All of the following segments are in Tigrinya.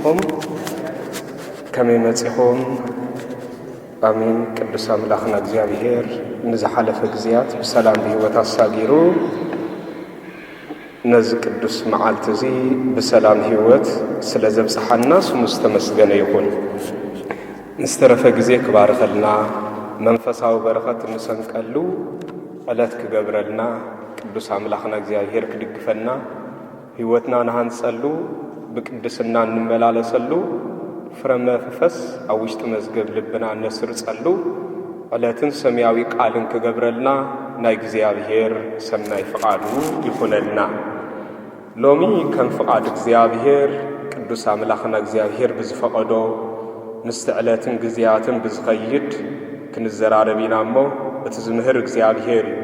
ኹም ከመይ መጺኹም ኣሜን ቅዱስ ኣምላኽና እግዚኣብሄር ንዝሓለፈ ግዜያት ብሰላም ብሂወት ኣሳጊሩ ነዚ ቅዱስ መዓልቲ እዚ ብሰላም ሂወት ስለ ዘብጽሓና ስሙ ዝተመስገነ ይኹን ንዝተረፈ ግዜ ክባርኸልና መንፈሳዊ በረኸት እንሰንቀሉ ዕለት ክገብረልና ቅዱስ ኣምላኽና እግዚኣብሄር ክድግፈና ሕይወትና ንሃንጸሉ ብቅድስና እንመላለሰሉ ፍረ መፍፈስ ኣብ ውሽጢ መዝገብ ልብና እነስርጸሉ ዕለትን ሰምያዊ ቃልን ክገብረልና ናይ እግዚኣብሔር ሰናይ ፍቓዱ ይኹነልና። ሎሚ ከም ፍቓድ እግዚኣብሔር ቅዱስ ኣምላኽና እግዚኣብሔር ብዝፈቐዶ ምስቲ ዕለትን ግዜያትን ብዝኸይድ ክንዘራረብ ኢና እሞ እቲ ዝምህር እግዚኣብሔር እዩ።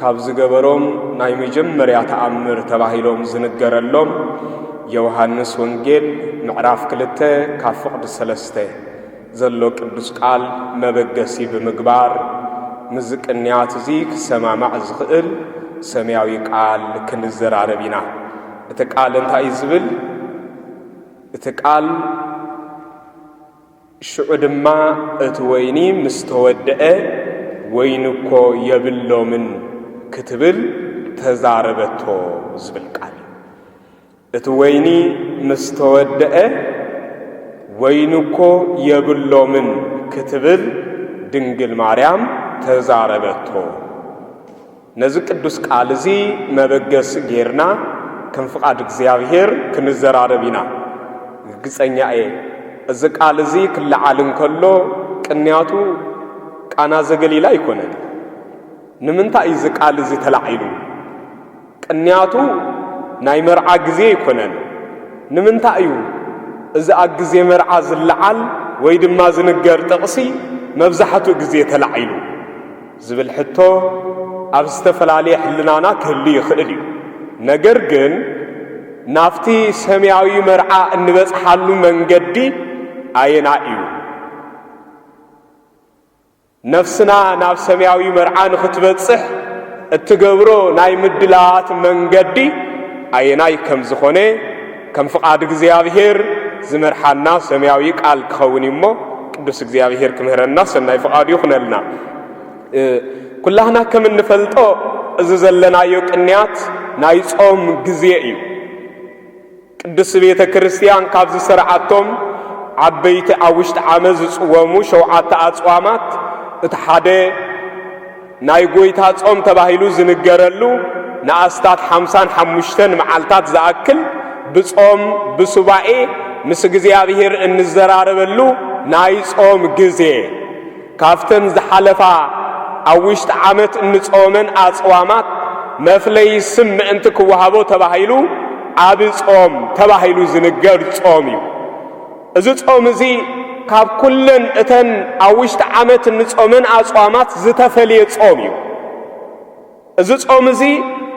ካብ ዝገበሮም ናይ መጀመርያ ተኣምር ተባሂሎም ዝንገረሎም ዮውሃንስ ወንጌል ምዕራፍ ክልተ ካብ ፍቕዲ ሰለስተ ዘሎ ቅዱስ ቃል መበገሲ ብምግባር ምስዚ ቅንያት እዚ ክሰማማዕ ዝኽእል ሰማያዊ ቃል ክንዘራረብ ኢና። እቲ ቃል እንታይ እዩ ዝብል? እቲ ቃል ሽዑ ድማ እቲ ወይኒ ምስ ተወድአ፣ ወይኒ እኮ የብሎምን ክትብል ተዛረበቶ ዝብል ቃል እዩ። እቲ ወይኒ ምስ ተወድአ፣ ወይኒ እኮ የብሎምን ክትብል ድንግል ማርያም ተዛረበቶ። ነዚ ቅዱስ ቃል እዚ መበገሲ ጌርና ከም ፍቓድ እግዚኣብሔር ክንዘራረብ ኢና። ርግጸኛ እየ እዚ ቃል እዚ ክለዓል እንከሎ ቅንያቱ ቃና ዘገሊላ ኣይኮነን። ንምንታይ እዩ እዚ ቃል እዚ ተላዒሉ? ቅንያቱ ናይ መርዓ ግዜ ኣይኮነን። ንምንታይ እዩ እዚ ኣብ ግዜ መርዓ ዝለዓል ወይ ድማ ዝንገር ጥቕሲ መብዛሕትኡ ግዜ ተላዒሉ? ዝብል ሕቶ ኣብ ዝተፈላለየ ሕልናና ክህሉ ይኽእል እዩ። ነገር ግን ናብቲ ሰማያዊ መርዓ እንበጽሓሉ መንገዲ ኣየናይ እዩ? ነፍስና ናብ ሰማያዊ መርዓ ንኽትበጽሕ እትገብሮ ናይ ምድላዋት መንገዲ ኣየናይ ከም ዝኾነ ከም ፍቓድ እግዚኣብሔር ዝመርሓና ሰማያዊ ቃል ክኸውን እዩ እሞ ቅዱስ እግዚኣብሔር ክምህረና ሰናይ ፍቓዱ ይኹነልና። ኩላህና ከም እንፈልጦ እዚ ዘለናዮ ቅንያት ናይ ጾም ግዜ እዩ። ቅዱስ ቤተ ክርስቲያን ካብ ዝሰርዓቶም ዓበይቲ ኣብ ውሽጢ ዓመት ዝጽወሙ ሸውዓተ ኣጽዋማት እቲ ሓደ ናይ ጐይታ ጾም ተባሂሉ ዝንገረሉ ንኣስታት ሓምሳን ሓሙሽተን መዓልታት ዝኣክል ብጾም ብሱባኤ ምስ እግዚኣብሔር እንዘራረበሉ ናይ ጾም ግዜ ካብተን ዝሓለፋ ኣብ ውሽጢ ዓመት እንጾመን ኣጽዋማት መፍለይ ስም ምእንቲ ክወሃቦ ተባሂሉ ዓቢ ጾም ተባሂሉ ዝንገር ጾም እዩ። እዚ ጾም እዚ ካብ ኩለን እተን ኣብ ውሽጢ ዓመት እንጾመን ኣጽዋማት ዝተፈልየ ጾም እዩ። እዚ ጾም እዚ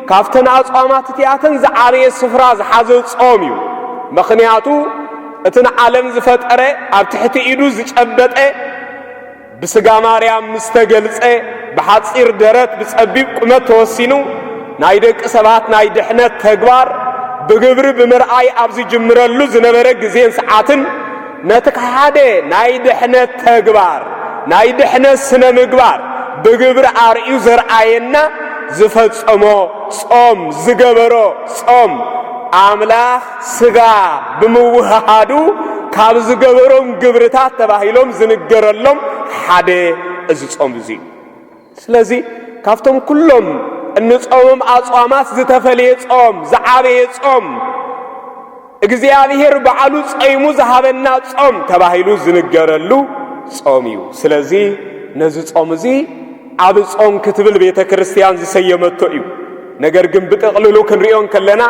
ካብተን ኣጽዋማት እቲኣተን ዝዓበየ ስፍራ ዝሓዘ ጾም እዩ። ምኽንያቱ እቲ ንዓለም ዝፈጠረ ኣብ ትሕቲ ኢዱ ዝጨበጠ ብስጋ ማርያም ምስ ተገልጸ ብሓጺር ደረት ብጸቢብ ቁመት ተወሲኑ ናይ ደቂ ሰባት ናይ ድሕነት ተግባር ብግብሪ ብምርኣይ ኣብ ዝጅምረሉ ዝነበረ ግዜን ሰዓትን ነቲ ሓደ ናይ ድሕነት ተግባር ናይ ድሕነት ስነ ምግባር ብግብሪ ኣርእዩ ዘርኣየና ዝፈጸሞ ጾም ዝገበሮ ጾም ኣምላኽ ስጋ ብምውህሃዱ ካብ ዝገበሮም ግብርታት ተባሂሎም ዝንገረሎም ሓደ እዚ ጾም እዚ እዩ ስለዚ ካብቶም ኩሎም እንጾምም ኣጽዋማት ዝተፈልየ ጾም ዝዓበየ ጾም እግዚኣብሔር በዓሉ ጸይሙ ዝሃበና ጾም ተባሂሉ ዝንገረሉ ጾም እዩ ስለዚ ነዚ ጾም እዚ ዓቢ ጾም ክትብል ቤተ ክርስትያን ዝሰየመቶ እዩ። ነገር ግን ብጥቕልሉ ክንሪኦ እንከለና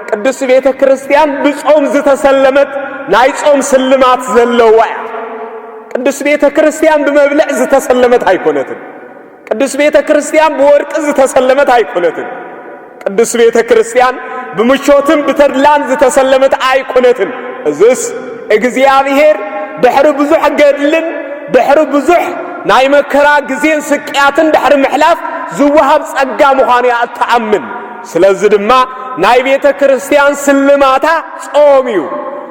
ቅድስቲ ቤተ ክርስትያን ብጾም ዝተሰለመት ናይ ጾም ስልማት ዘለዋ እያ። ቅድስቲ ቤተ ክርስትያን ብመብልዕ ዝተሰለመት ኣይኮነትን። ቅድስቲ ቤተ ክርስትያን ብወርቂ ዝተሰለመት ኣይኮነትን። ቅድስት ቤተ ክርስቲያን ብምቾትን ብተድላን ዝተሰለመት ኣይኮነትን። እዝስ እግዚኣብሔር ድሕሪ ብዙሕ ገድልን ድሕሪ ብዙሕ ናይ መከራ ግዜን ስቅያትን ድሕሪ ምሕላፍ ዝወሃብ ጸጋ ምዃኑ እያ እትኣምን። ስለዚ ድማ ናይ ቤተ ክርስቲያን ስልማታ ጾም እዩ።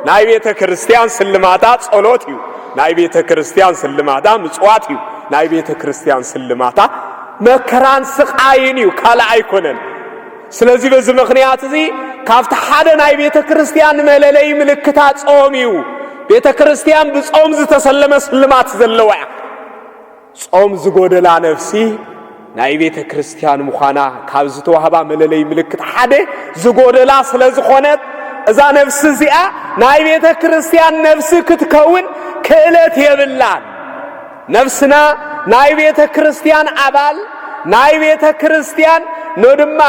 ናይ ቤተ ክርስቲያን ስልማታ ጸሎት እዩ። ናይ ቤተ ክርስቲያን ስልማታ ምጽዋት እዩ። ናይ ቤተ ክርስቲያን ስልማታ መከራን ስቃይን እዩ ካልእ ኣይኮነን ስለዚ በዚ ምኽንያት እዚ ካብቲ ሓደ ናይ ቤተ ክርስቲያን መለለይ ምልክታ ጾም እዩ ቤተ ክርስቲያን ብጾም ዝተሰለመ ስልማት ዘለዋ እያ ጾም ዝጎደላ ነፍሲ ናይ ቤተ ክርስቲያን ምዃና ካብ ዝተዋህባ መለለይ ምልክት ሓደ ዝጎደላ ስለ ዝኾነት እዛ ነፍሲ እዚኣ ናይ ቤተ ክርስቲያን ነፍሲ ክትከውን ክእለት የብላን ነፍስና ናይ ቤተ ክርስቲያን ኣባል ናይ ቤተ ክርስቲያን ኖ ድማ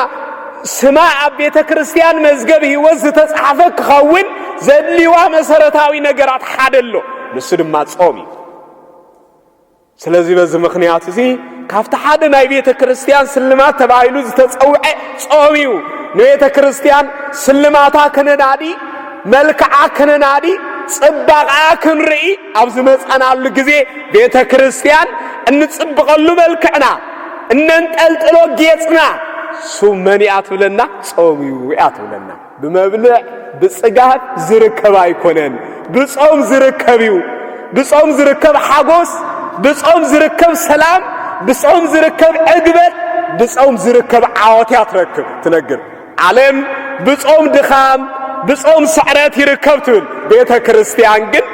ስማ ኣብ ቤተ ክርስቲያን መዝገብ ሕይወት ዝተጻሕፈ ክኸውን ዘድልዋ መሰረታዊ ነገራት ሓደ ኣሎ ንሱ ድማ ጾም እዩ ስለዚ በዚ ምኽንያት እዚ ካብቲ ሓደ ናይ ቤተ ክርስቲያን ስልማት ተባሂሉ ዝተጸውዐ ጾም እዩ ንቤተ ክርስቲያን ስልማታ ከነናዲ መልክዓ ከነናዲ ጽባቕኣ ክንርኢ ኣብ ዝመጻናሉ ግዜ ቤተ ክርስቲያን እንጽብቐሉ መልክዕና እነንጠልጥሎ ጌጽና ሱብ መን እያ ትብለና? ጾም እዩ እያ ትብለና። ብመብልዕ ብጽጋብ ዝርከብ ኣይኮነን፣ ብጾም ዝርከብ እዩ። ብጾም ዝርከብ ሓጎስ፣ ብጾም ዝርከብ ሰላም፣ ብጾም ዝርከብ ዕግበት፣ ብጾም ዝርከብ ዓወት እያ ትረክብ ትነግር ዓለም ብጾም ድኻም ብጾም ስዕረት ይርከብ ትብል፣ ቤተ ክርስቲያን ግን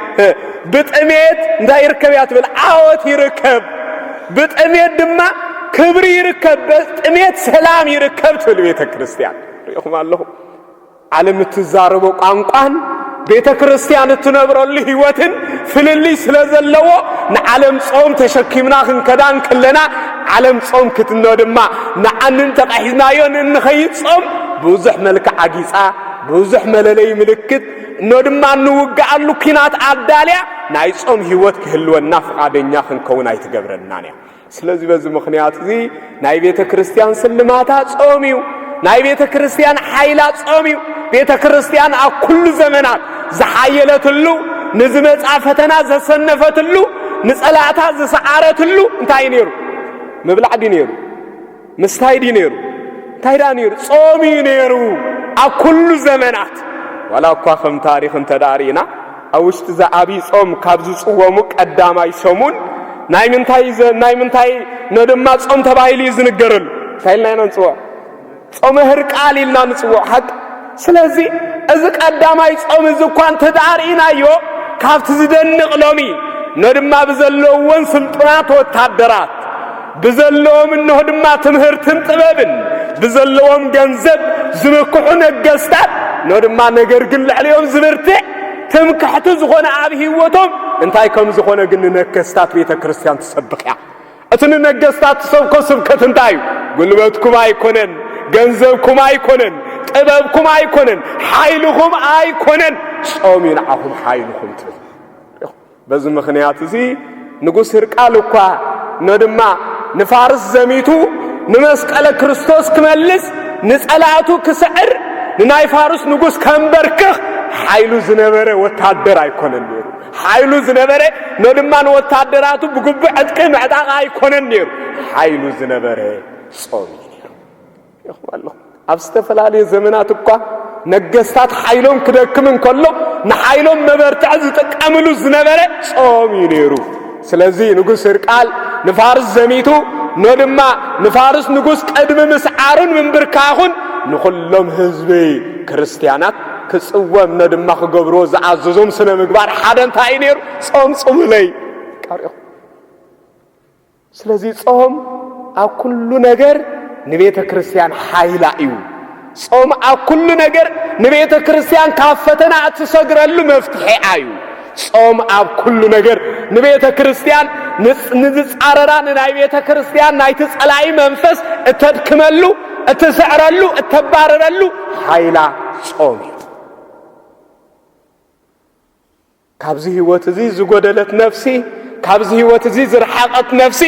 ብጥሜት እንታይ ይርከብ እያ ትብል? ዓወት ይርከብ። ብጥሜት ድማ ክብሪ ይርከብ፣ ብጥሜት ሰላም ይርከብ ትብል ቤተ ክርስቲያን። ሪኢኹም ኣለኹም ዓለም እትዛረቦ ቋንቋን ቤተ ክርስቲያን እትነብረሉ ህይወትን ፍልልይ ስለ ዘለዎ ንዓለም ጾም ተሸኪምና ክንከዳ እንከለና ዓለም ጾም ክትኖ ድማ ንዓንን ተቓሒዝናዮን እንኸይድ ጾም ብዙሕ መልክዕ ኣጊጻ ብዙሕ መለለይ ምልክት እኖ ድማ እንውግኣሉ ኲናት ኣዳልያ ናይ ጾም ህይወት ክህልወና ፍቓደኛ ክንከውን ኣይትገብረናን እያ ስለዚ በዚ ምኽንያት እዚ ናይ ቤተ ክርስቲያን ስልማታ ጾም እዩ ናይ ቤተ ክርስቲያን ሓይላ ጾም እዩ ቤተ ክርስቲያን ኣብ ኩሉ ዘመናት ዝሓየለትሉ ንዝመጻ ፈተና ዘሰነፈትሉ ንጸላእታ ዝሰዓረትሉ እንታይ እዩ ነይሩ ምብላዕ ድዩ ነይሩ ምስታይ ድዩ ነይሩ እንታይ ደኣ ነይሩ ጾም እዩ ነይሩ ኣብ ኩሉ ዘመናት ዋላ እኳ ከም ታሪኽ እንተ ደኣ ርኢና ኣብ ውሽጢ እዛ ኣብይ ጾም ካብ ዝጽወሙ ቀዳማይ ሰሙን ናይ ምንታይ ናይ ምንታይ ነ ድማ ጾም ተባሂሉ እዩ ዝንገረሉ እንታይ ኢልና ኢና ንጽውዖ ጾመ ህርቃል ኢልና ንጽውዖ ሓቂ ስለዚ እዚ ቀዳማይ ጾም እዚ እኳ እንተ ደኣ ርኢናዮ ካብቲ ዝደንቕ ሎሚ ነ ድማ ብዘለዎን ስልጡናት ወታደራት ብዘለዎም እንሆ ድማ ትምህርትን ጥበብን ብዘለዎም ገንዘብ ዝምክሑ ነገስታት እንሆ ድማ ነገር ግን ልዕሊኦም ዝብርትዕ ትምክሕቲ ዝኾነ ኣብ ህይወቶም እንታይ ከም ዝኾነ ግን ንነገስታት ቤተ ክርስቲያን ትሰብኽ እያ እቲ ንነገስታት ትሰብኮ ስብከት እንታይ እዩ ጉልበትኩም ኣይኮነን ገንዘብኩም ኣይኮነን ጥበብኩም ኣይኮነን ሓይልኹም ኣይኮነን ጾም እዩ ንዓኹም ሓይልኹም ትብል በዚ ምኽንያት እዚ ንጉስ ህርቃል እኳ ነድማ ንፋርስ ዘሚቱ ንመስቀለ ክርስቶስ ክመልስ ንጸላእቱ ክስዕር ንናይ ፋርስ ንጉስ ከንበርክኽ ሓይሉ ዝነበረ ወታደር ኣይኮነን ነይሩ ሓይሉ ዝነበረ ነድማ ንወታደራቱ ብግቡእ ዕጥቂ ምዕጣቕ ኣይኮነን ነይሩ ሓይሉ ዝነበረ ጾም እዩ ይኹም ኣሎ። ኣብ ዝተፈላለየ ዘመናት እኳ ነገስታት ሓይሎም ክደክም እንከሎ ንሓይሎም መበርትዕ ዝጥቀምሉ ዝነበረ ጾም እዩ ነይሩ። ስለዚ ንጉስ ህርቃል ንፋርስ ዘሚቱ ኖ ድማ ንፋርስ ንጉስ ቅድሚ ምስዓሩን ምንብርካኹን ንዅሎም ህዝቢ ክርስትያናት ክጽወም ኖ ድማ ክገብርዎ ዝኣዘዞም ስነ ምግባር ሓደ እንታይ እዩ ነይሩ? ጾም ጽሙለይ ቃሪኹ ስለዚ ጾም ኣብ ኩሉ ነገር ንቤተ ክርስቲያን ሓይላ እዩ። ጾም ኣብ ኩሉ ነገር ንቤተ ክርስቲያን ካብ ፈተና እትሰግረሉ መፍትሒኣ እዩ። ጾም ኣብ ኩሉ ነገር ንቤተ ክርስቲያን ንዝጻረራ ንናይ ቤተ ክርስቲያን ናይቲ ጸላኢ መንፈስ እተድክመሉ እትስዕረሉ እተባረረሉ ሓይላ ጾም እዩ። ካብዚ ህይወት እዚ ዝጎደለት ነፍሲ ካብዚ ህይወት እዚ ዝረሓቐት ነፍሲ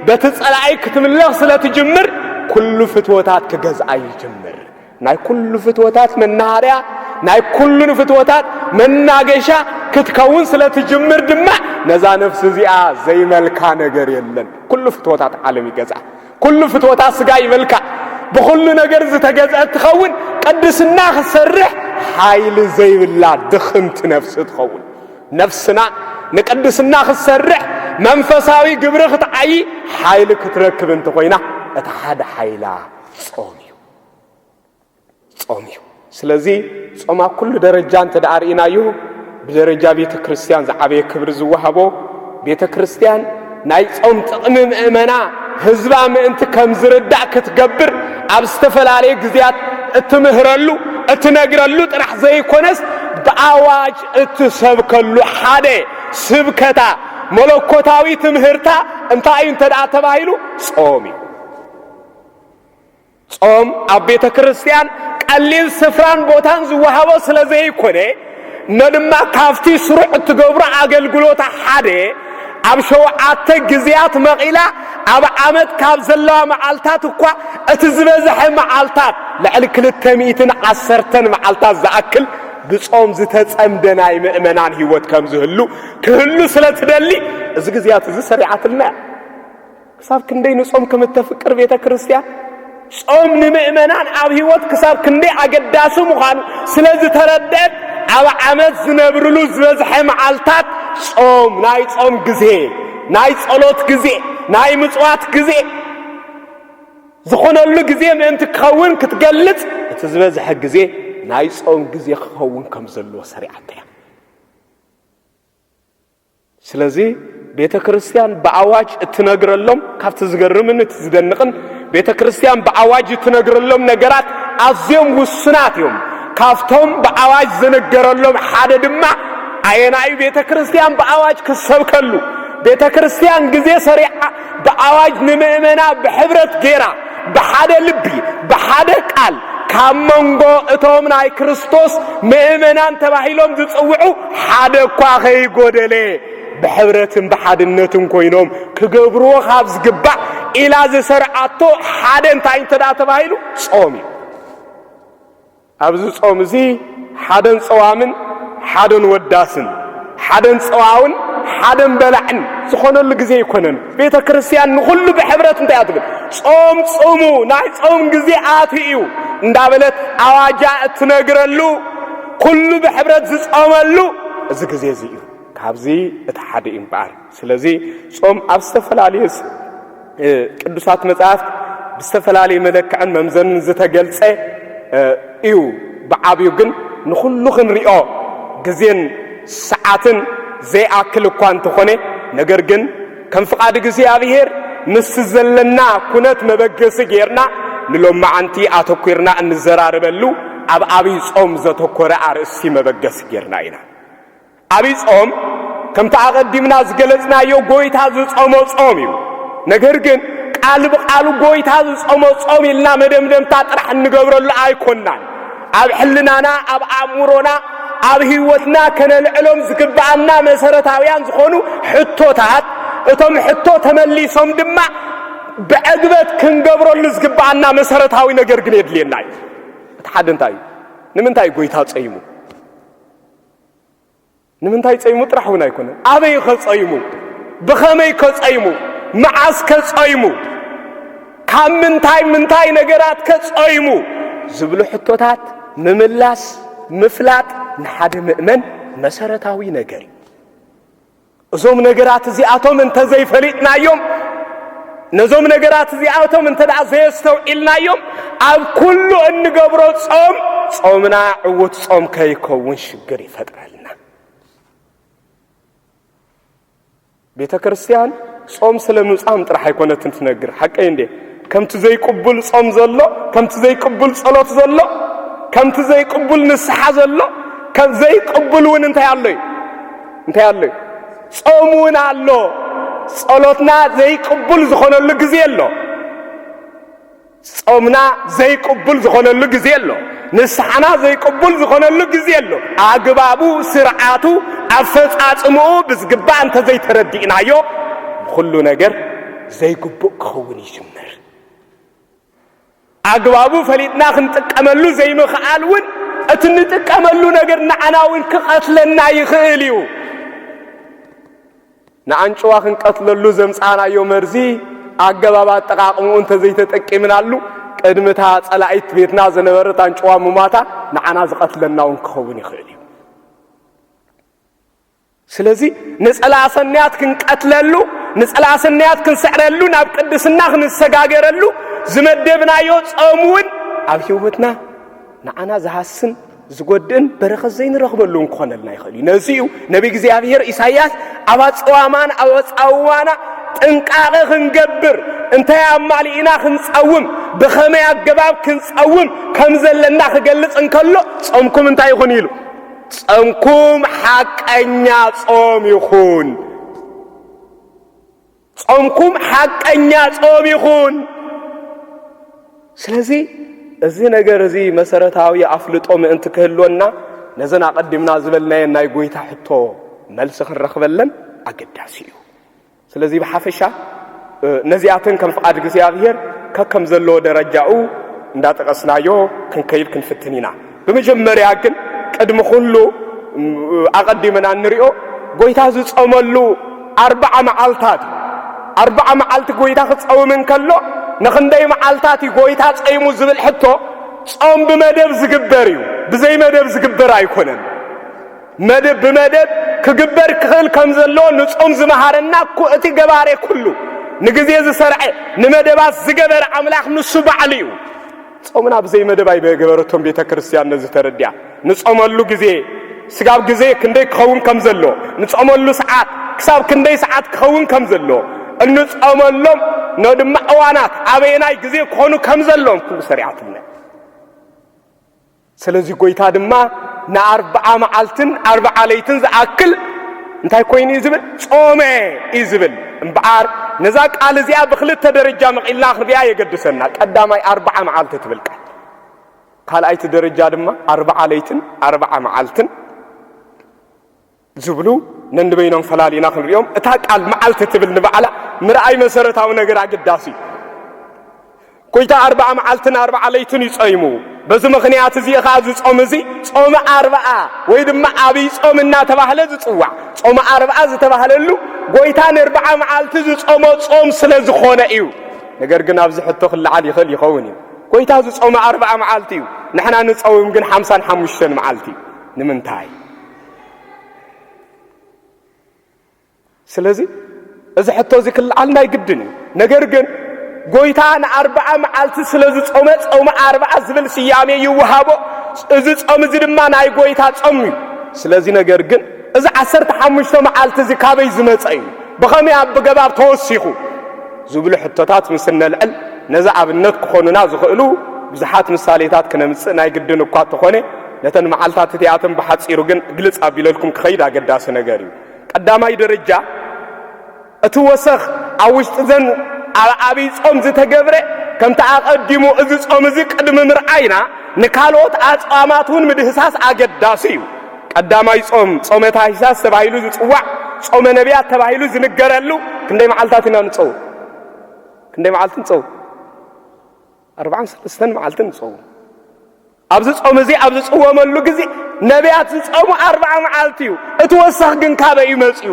በቲ ጸላኣይ ክትምለኽ ስለ ትጅምር ኩሉ ፍትወታት ክገዝኣ ይጅምር። ናይ ኩሉ ፍትወታት መናሃርያ ናይ ኩሉ ፍትወታት መናገሻ ክትከውን ስለ ትጅምር ድማ ነዛ ነፍሲ እዚኣ ዘይመልካ ነገር የለን ኩሉ ፍትወታት ዓለም ይገዝኣ ኩሉ ፍትወታ ስጋ ይበልካ ብኹሉ ነገር ዝተገዝአ ትኸውን ቅድስና ክሰርሕ ሓይሊ ዘይብላ ድኽምቲ ነፍሲ ትኸውን ነፍስና ንቅድስና ክትሰርሕ መንፈሳዊ ግብሪ ክትዓይ ሓይሊ ክትረክብ እንተኾይና እቲ ሓደ ሓይላ ጾም እዩ ጾም እዩ። ስለዚ ጾም ኣብ ኩሉ ደረጃ እንተ ደኣ ርኢናዮ ብደረጃ ቤተ ክርስቲያን ዝዓበየ ክብሪ ዝወሃቦ ቤተ ክርስቲያን ናይ ጾም ጥቕሚ ምእመና ህዝባ ምእንቲ ከም ዝርዳእ ክትገብር ኣብ ዝተፈላለየ ግዜያት እትምህረሉ እትነግረሉ ጥራሕ ዘይኮነስ ብኣዋጅ እትሰብከሉ ሓደ ስብከታ መለኮታዊ ትምህርታ እንታይ እዩ እንተ ተባሂሉ ጾም እዩ ጾም ኣብ ቤተ ክርስቲያን ቀሊል ስፍራን ቦታን ዝወሃቦ ስለ ዘይኮነ እነ ድማ ካብቲ ስሩዕ እትገብሮ ኣገልግሎታ ሓደ ኣብ ሸውዓተ ግዜያት መቒላ ኣብ ዓመት ካብ ዘለዋ መዓልታት እኳ እቲ ዝበዝሐ መዓልታት ልዕሊ ክልተ ሚእትን ዓሰርተን መዓልታት ዝኣክል ብጾም ዝተጸምደ ናይ ምእመናን ህይወት ከም ዝህሉ ክህሉ ስለ ትደሊ እዚ ግዜያት እዚ ሰሪዓትልና እያ ክሳብ ክንደይ ንጾም ከም እተፍቅር ቤተ ክርስቲያን ጾም ንምእመናን ኣብ ህይወት ክሳብ ክንደይ ኣገዳሲ ምዃኑ ስለ ዝተረድአት ኣብ ዓመት ዝነብርሉ ዝበዝሐ መዓልታት ጾም ናይ ጾም ግዜ ናይ ጸሎት ግዜ ናይ ምጽዋት ግዜ ዝኾነሉ ግዜ ምእንቲ ክኸውን ክትገልጽ እቲ ዝበዝሐ ግዜ ናይ ጾም ግዜ ክኸውን ከም ዘለዎ ሰሪዓተያ ስለዚ ቤተ ክርስቲያን ብኣዋጅ እትነግረሎም ካብቲ ዝገርምን እቲ ዝደንቕን ቤተ ክርስቲያን ብኣዋጅ እትነግረሎም ነገራት ኣዝዮም ውሱናት እዮም። ካብቶም ብኣዋጅ ዝነገረሎም ሓደ ድማ ኣየናዩ ቤተ ክርስቲያን ብኣዋጅ ክሰብከሉ ቤተ ክርስቲያን ግዜ ሰሪዓ ብኣዋጅ ንምእመና ብሕብረት ጌራ ብሓደ ልቢ ብሓደ ቃል ካብ መንጎ እቶም ናይ ክርስቶስ ምእመናን ተባሂሎም ዝጽውዑ ሓደ እኳ ኸይጎደለ ብሕብረትን ብሓድነትን ኮይኖም ክገብርዎ ካብ ዝግባእ ኢላ ዝሰርዓቶ ሓደ እንታይ እንተ ተባሂሉ ጾም እዩ ኣብዚ ጾም እዚ ሓደን ጸዋምን ሓደን ወዳስን ሓደን ጸዋውን ሓደን በላዕን ዝኾነሉ ግዜ ኣይኮነን። ቤተ ክርስቲያን ንኹሉ ብሕብረት እንታይ ኣትብል ጾም ጽሙ ናይ ጾም ግዜ ኣትዩ እዩ እንዳበለት ኣዋጃ እትነግረሉ ኩሉ ብሕብረት ዝጾመሉ እዚ ግዜ እዚ እዩ። ካብዚ እቲ ሓደ እዩ እምበኣር ስለዚ ጾም ኣብ ዝተፈላለዩ ቅዱሳት መጻሕፍት ብዝተፈላለየ መለክዕን መምዘንን ዝተገልጸ እዩ። ብዓብዩ ግን ንኹሉ ክንሪኦ ግዜን ሰዓትን ዘይኣክል እኳ እንተኾነ ነገር ግን ከም ፍቓድ እግዚኣብሔር ምስቲ ዘለና ኩነት መበገሲ ጌርና ንሎማዓንቲ ኣተኲርና እንዘራረበሉ ኣብ ኣብይ ጾም ዘተኮረ ኣርእስቲ መበገሲ ጌርና ኢና። ዓቢይ ጾም ከምቲ ኣቐዲምና ዝገለጽናዮ ጎይታ ዝጾሞ ጾም እዩ። ነገር ግን ቃል ብቃሉ ጎይታ ዝጾሞ ጾም ኢልና መደምደምታ ጥራሕ እንገብረሉ ኣይኮናን። ኣብ ሕልናና፣ ኣብ ኣእምሮና፣ ኣብ ህይወትና ከነልዕሎም ዝግብኣና መሰረታውያን ዝኾኑ ሕቶታት እቶም ሕቶ ተመሊሶም ድማ ብዕግበት ክንገብረሉ ዝግብኣና መሰረታዊ ነገር ግን የድልየና እዩ እቲ ሓደ እንታይ እዩ ንምንታይ ጎይታ ጸይሙ ንምንታይ ጸይሙ ጥራሕ እውን ኣይኮነን ኣበይ ከጸይሙ ብኸመይ ከጸይሙ መዓስ ከጸይሙ ካብ ምንታይ ምንታይ ነገራት ከጸይሙ ዝብሉ ሕቶታት ምምላስ ምፍላጥ ንሓደ ምእመን መሰረታዊ ነገር እዩ እዞም ነገራት እዚኣቶም እንተ ዘይፈሊጥናዮም ነዞም ነገራት እዚኣቶም እንተ ደኣ ዘየስተውዒልናዮም ኣብ ኩሉ እንገብሮ ጾም ጾምና ዕውት ጾም ከይከውን ሽግር ይፈጥረልና ቤተ ክርስቲያን ጾም ስለ ምጻም ጥራሕ ኣይኮነትን ትነግር ሓቀይ እንዴ ከምቲ ዘይቅቡል ጾም ዘሎ፣ ከምቲ ዘይቅቡል ጸሎት ዘሎ፣ ከምቲ ዘይቅቡል ንስሓ ዘሎ፣ ከም ዘይቅቡል እውን እንታይ ኣሎ እዩ? እንታይ ኣሎ እዩ? ጾም እውን ኣሎ። ጸሎትና ዘይቅቡል ዝኾነሉ ግዜ ኣሎ። ጾምና ዘይቅቡል ዝኾነሉ ግዜ ኣሎ። ንስሓና ዘይቅቡል ዝኾነሉ ግዜ ኣሎ። ኣግባቡ፣ ስርዓቱ፣ ኣፈጻጽምኡ ብዝግባእ እንተዘይተረዲእናዮ ንኹሉ ነገር ዘይግቡእ ክኸውን ይጅምር። ኣግባቡ ፈሊጥና ክንጥቀመሉ ዘይምኽኣል እውን እቲ እንጥቀመሉ ነገር ንዓና እውን ክቐትለና ይኽእል እዩ። ንኣንጭዋ ክንቀትለሉ ዘምፃእናዮ መርዚ ኣገባብ ኣጠቃቕምኡ እንተዘይተጠቂምናሉ ቅድሚታ ፀላኢት ቤትና ዝነበረት ኣንጭዋ ምሟታ ንዓና ዝቐትለና እውን ክኸውን ይኽእል እዩ። ስለዚ ንጸላኣ ሰናያት ክንቀትለሉ፣ ንጸላኣ ሰናያት ክንስዕረሉ፣ ናብ ቅድስና ክንሰጋገረሉ ዝመደብናዮ ጾም እውን ኣብ ህይወትና ንዓና ዝሃስን ዝጎድእን በረኸት ዘይንረኽበሉን ክኾነልና ይኽእል እዩ ነዚ እዩ ነቢ እግዚኣብሔር ኢሳይያስ ኣብ ኣፀዋማን ኣብ ኣፃውዋና ጥንቃቐ ክንገብር እንታይ ኣማሊእና ክንፀውም ብኸመይ ኣገባብ ክንፀውም ከም ዘለና ክገልፅ እንከሎ ጾምኩም እንታይ ይኹን ኢሉ ጸምኩም ሓቀኛ ጾም ይኹን። ጾምኩም ሓቀኛ ጾም ይኹን። ስለዚ እዚ ነገር እዚ መሰረታዊ ኣፍልጦ ምእንቲ ክህልወና ነዘን ኣቐዲምና ዝበልናየን ናይ ጎይታ ሕቶ መልሲ ክንረኽበለን ኣገዳሲ እዩ። ስለዚ ብሓፈሻ ነዚኣተን ከም ፍቓድ እግዚኣብሔር ከከም ዘለዎ ደረጃኡ እንዳጠቐስናዮ ክንከይድ ክንፍትን ኢና። ብመጀመርያ ግን ቅድሚ ኩሉ ኣቐዲምና እንሪኦ ጎይታ ዝጾመሉ ኣርብዓ መዓልታት እዩ። ኣርብዓ መዓልቲ ጎይታ ክጸውም እንከሎ ንኽንደይ መዓልታት እዩ ጎይታ ጸይሙ ዝብል ሕቶ ጾም ብመደብ ዝግበር እዩ፣ ብዘይ መደብ ዝግበር ኣይኮነን። መደብ ብመደብ ክግበር ክኽእል ከም ዘለዎ ንጾም ዝመሃረና እኮ እቲ ገባሬ ኩሉ ንግዜ ዝሰርዐ ንመደባት ዝገበረ ኣምላኽ ንሱ ባዕሉ እዩ። ጾምና ብዘይ መደብ ኣይበገበረቶም ቤተ ክርስቲያን ነዚ ተረዲኣ ንጾመሉ ግዜ ስጋብ ግዜ ክንደይ ክኸውን ከም ዘሎ ንጾመሉ ሰዓት ክሳብ ክንደይ ሰዓት ክኸውን ከም ዘሎ እንጾመሎም ኖ ድማ እዋናት ኣበየናይ ግዜ ክኾኑ ከም ዘሎዎም ኩሉ ሰሪዓትልና ስለዚ ጎይታ ድማ ንኣርብዓ መዓልትን ኣርብዓ ለይትን ዝኣክል እንታይ ኮይኑ እዩ ዝብል ጾመ እዩ ዝብል እምበኣር ነዛ ቃል እዚኣ ብክልተ ደረጃ መቒልና ክንሪኣ የገድሰና ቀዳማይ ኣርብዓ መዓልቲ ትብል ቃል ካልኣይቲ ደረጃ ድማ ኣርብዓ ለይትን ኣርብዓ መዓልትን ዝብሉ ነንበይኖም ፈላሊና ክንሪኦም እታ ቃል መዓልቲ ትብል ንባዕላ ምርኣይ መሰረታዊ ነገር ኣገዳሲ እዩ። ጎይታ ኣርብዓ መዓልትን ኣርብዓ ለይትን እዩ ጸይሙ። በዚ ምኽንያት እዚ ኸዓ እዚ ጾም እዚ ጾመ ኣርብዓ ወይ ድማ ኣብይ ጾም እናተባህለ ዝጽዋዕ ጾመ ኣርብዓ ዝተባህለሉ ጎይታ ንርብዓ መዓልቲ ዝጾሞ ጾም ስለ ዝኾነ እዩ። ነገር ግን ኣብዚ ሕቶ ክለዓል ይኽእል ይኸውን እዩ። ጎይታ ዝጾመ ኣርብዓ መዓልቲ እዩ፣ ንሕና ንጸውም ግን ሓምሳን ሓሙሽተን መዓልቲ እዩ። ንምንታይ? ስለዚ እዚ ሕቶ እዚ ክልዓል ናይ ግድን እዩ ነገር ግን ጎይታ ንኣርብዓ መዓልቲ ስለ ዝጾመ ጾመ ኣርብዓ ዝብል ስያሜ ይወሃቦ እዚ ጾም እዚ ድማ ናይ ጎይታ ጾም እዩ ስለዚ ነገር ግን እዚ ዓሰርተ ሓሙሽተ መዓልቲ እዚ ካበይ ዝመጸ እዩ ብኸመይ ኣብ ብገባብ ተወሲኹ ዝብሉ ሕቶታት ምስ እነልዕል ነዚ ኣብነት ክኾኑና ዝኽእሉ ብዙሓት ምሳሌታት ክነምጽእ ናይ ግድን እኳ እተኾነ ነተን መዓልታት እቲኣተን ብሓጺሩ ግን ግልጽ ኣቢለልኩም ክኸይድ ኣገዳሲ ነገር እዩ። ቀዳማይ ደረጃ እቲ ወሰኽ ኣብ ውሽጢ ዘን ኣብ ኣብይ ጾም ዝተገብረ ከምቲ ኣቐዲሙ እዚ ጾም እዚ ቅድሚ ምርኣይና ንካልኦት ኣጽዋማት እውን ምድህሳስ ኣገዳሲ እዩ። ቀዳማይ ጾም ጾመ ታኅሳስ ተባሂሉ ዝጽዋዕ ጾመ ነቢያት ተባሂሉ ዝንገረሉ ክንደይ መዓልታት ኢና ንጸውም? ክንደይ መዓልቲ ንጸውም? ኣርባዓን ሰለስተን መዓልቲ ንጸውም። ኣብዚ ጾም እዚ ኣብ ዝጽወመሉ ግዜ ነቢያት ዝጸሙ ኣርብዓ መዓልቲ እዩ፣ እቲ ወሰኽ ግን ካበይ እዩ መጺኡ?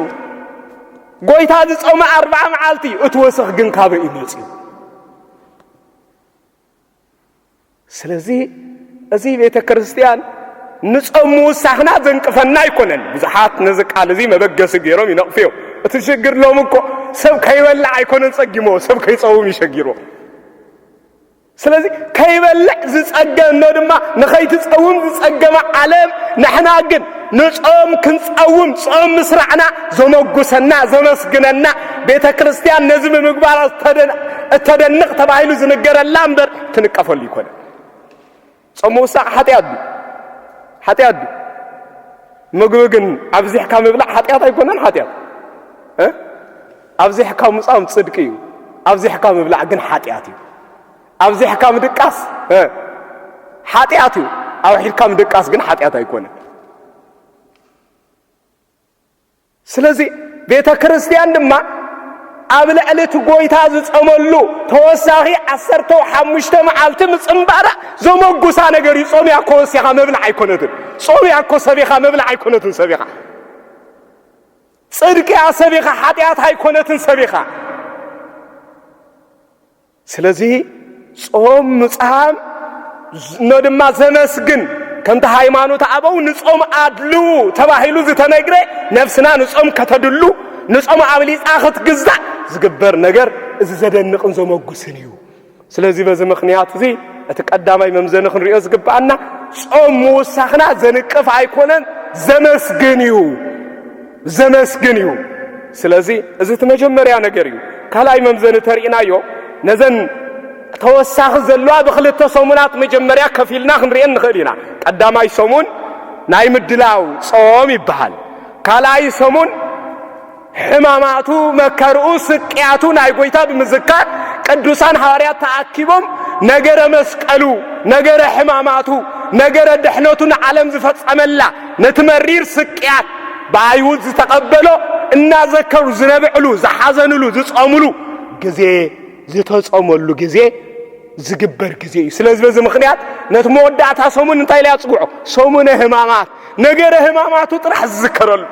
ጎይታ ዝጸመ ኣርብዓ መዓልቲ እዩ፣ እቲ ወሰኽ ግን ካበይ እዩ መጺኡ? ስለዚ እዚ ቤተ ክርስቲያን ንጾም ምውሳኽና ዘንቅፈና ኣይኮነን። ብዙሓት ነዚ ቃል እዚ መበገሲ ገይሮም ይነቕፉ እዮም። እቲ ሽግር ሎም እኮ ሰብ ከይበላዕ ኣይኮነን ጸጊሞ፣ ሰብ ከይጸውም ይሸጊሮ። ስለዚ ከይበልዕ ዝጸገ እኖ ድማ ንኸይትጸውም ዝጸገመ ዓለም ንሕና ግን ንጾም ክንጸውም ጾም ምስራዕና ዘመጉሰና ዘመስግነና ቤተ ክርስቲያን ነዚ ብምግባራ እተደንቕ ተባሂሉ ዝንገረላ እምበር ትንቀፈሉ ይኮነ ጾም ምውሳዕ ሓጢኣት ድዩ? ሓጢኣት ድዩ? ምግቢ ግን ኣብዚሕካ ምብላዕ ሓጢኣት ኣይኮነን? ሓጢኣት ኣብዚሕካ ምጻም ጽድቂ እዩ፣ ኣብዚሕካ ምብላዕ ግን ሓጢኣት እዩ። ኣብዚሕካ ምድቃስ ሓጢኣት እዩ፣ ኣውሒድካ ምድቃስ ግን ሓጢኣት ኣይኮነን። ስለዚ ቤተ ክርስቲያን ድማ ኣብ ልዕሊ እቲ ጎይታ ዝጸመሉ ተወሳኺ ዓሰርተው ሓሙሽተ መዓልቲ ምጽምባራ ዘመጉሳ ነገር እዩ። ጾም ያኮ ወሲኻ መብልዕ ኣይኮነትን። ጾም ያኮ ሰቢኻ መብልዕ ኣይኮነትን። ሰቢኻ ጽድቅ እያ ሰቢኻ ሓጢኣት ኣይኮነትን። ሰቢኻ ስለዚ ጾም ምጽሃም እኖ ድማ ዘመስግን ከምቲ ሃይማኖት ኣበው ንጾም ኣድልዉ ተባሂሉ ዝተነግረ ነፍስና ንጾም ከተድሉ ንጾም ኣብሊጻ ክትግዛእ ዝግበር ነገር እዚ ዘደንቕን ዘመጉስን እዩ። ስለዚ በዚ ምኽንያት እዚ እቲ ቀዳማይ መምዘኒ ክንሪኦ ዝግብኣና ጾም ምውሳኽና ዘንቅፍ ኣይኮነን ዘመስግን እዩ። ዘመስግን እዩ። ስለዚ እዚ እቲ መጀመርያ ነገር እዩ። ካልኣይ መምዘኒ ተርእናዮ ነዘን ተወሳኺ ዘለዋ ብክልተ ሰሙናት መጀመርያ ከፊልና ክንርኤን ንኽእል ኢና። ቀዳማይ ሰሙን ናይ ምድላው ጾም ይበሃል። ካልኣይ ሰሙን ሕማማቱ፣ መከርኡ፣ ስቅያቱ ናይ ጎይታ ብምዝካር ቅዱሳን ሃዋርያት ተኣኪቦም ነገረ መስቀሉ፣ ነገረ ሕማማቱ፣ ነገረ ድሕነቱ ንዓለም ዝፈጸመላ ነቲ መሪር ስቅያት ብኣይሁድ ዝተቐበሎ እናዘከሩ ዝነብዕሉ፣ ዝሓዘንሉ፣ ዝጸሙሉ ግዜ ዝተጸመሉ ግዜ ዝግበር ግዜ እዩ። ስለዚ በዚ ምክንያት ነቲ መወዳእታ ሰሙን እንታይ ኢለያ ጽውዖ? ሰሙነ ህማማት ነገረ ህማማቱ ጥራሕ ዝዝከረሉ፣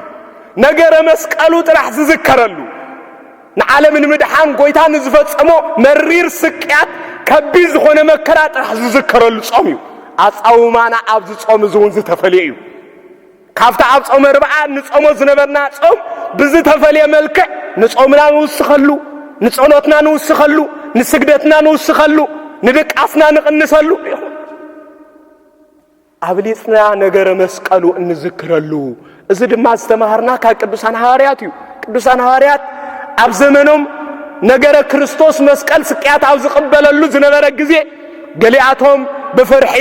ነገረ መስቀሉ ጥራሕ ዝዝከረሉ ንዓለም ንምድሓን ጎይታ ንዝፈጸሞ መሪር ስቅያት ከቢድ ዝኾነ መከራ ጥራሕ ዝዝከረሉ ጾም እዩ። ኣጻውማና ኣብዚ ጾም እዚ እውን ዝተፈልየ እዩ። ካብቲ ኣብ ጾመ ርብዓ ንጾሞ ዝነበርና ጾም ብዝተፈልየ መልክዕ ንጾምና ንውስኸሉ፣ ንጸሎትና ንውስኸሉ፣ ንስግደትና ንውስኸሉ፣ ንድቃስና ንቕንሰሉ ይኹን። ኣብሊጽና ነገረ መስቀሉ እንዝክረሉ እዚ ድማ ዝተማሃርና ካብ ቅዱሳን ሃዋርያት እዩ ቅዱሳን ሃዋርያት ኣብ ዘመኖም ነገረ ክርስቶስ መስቀል ስቅያት ኣብ ዝቕበለሉ ዝነበረ ግዜ ገሊኣቶም ብፍርሒ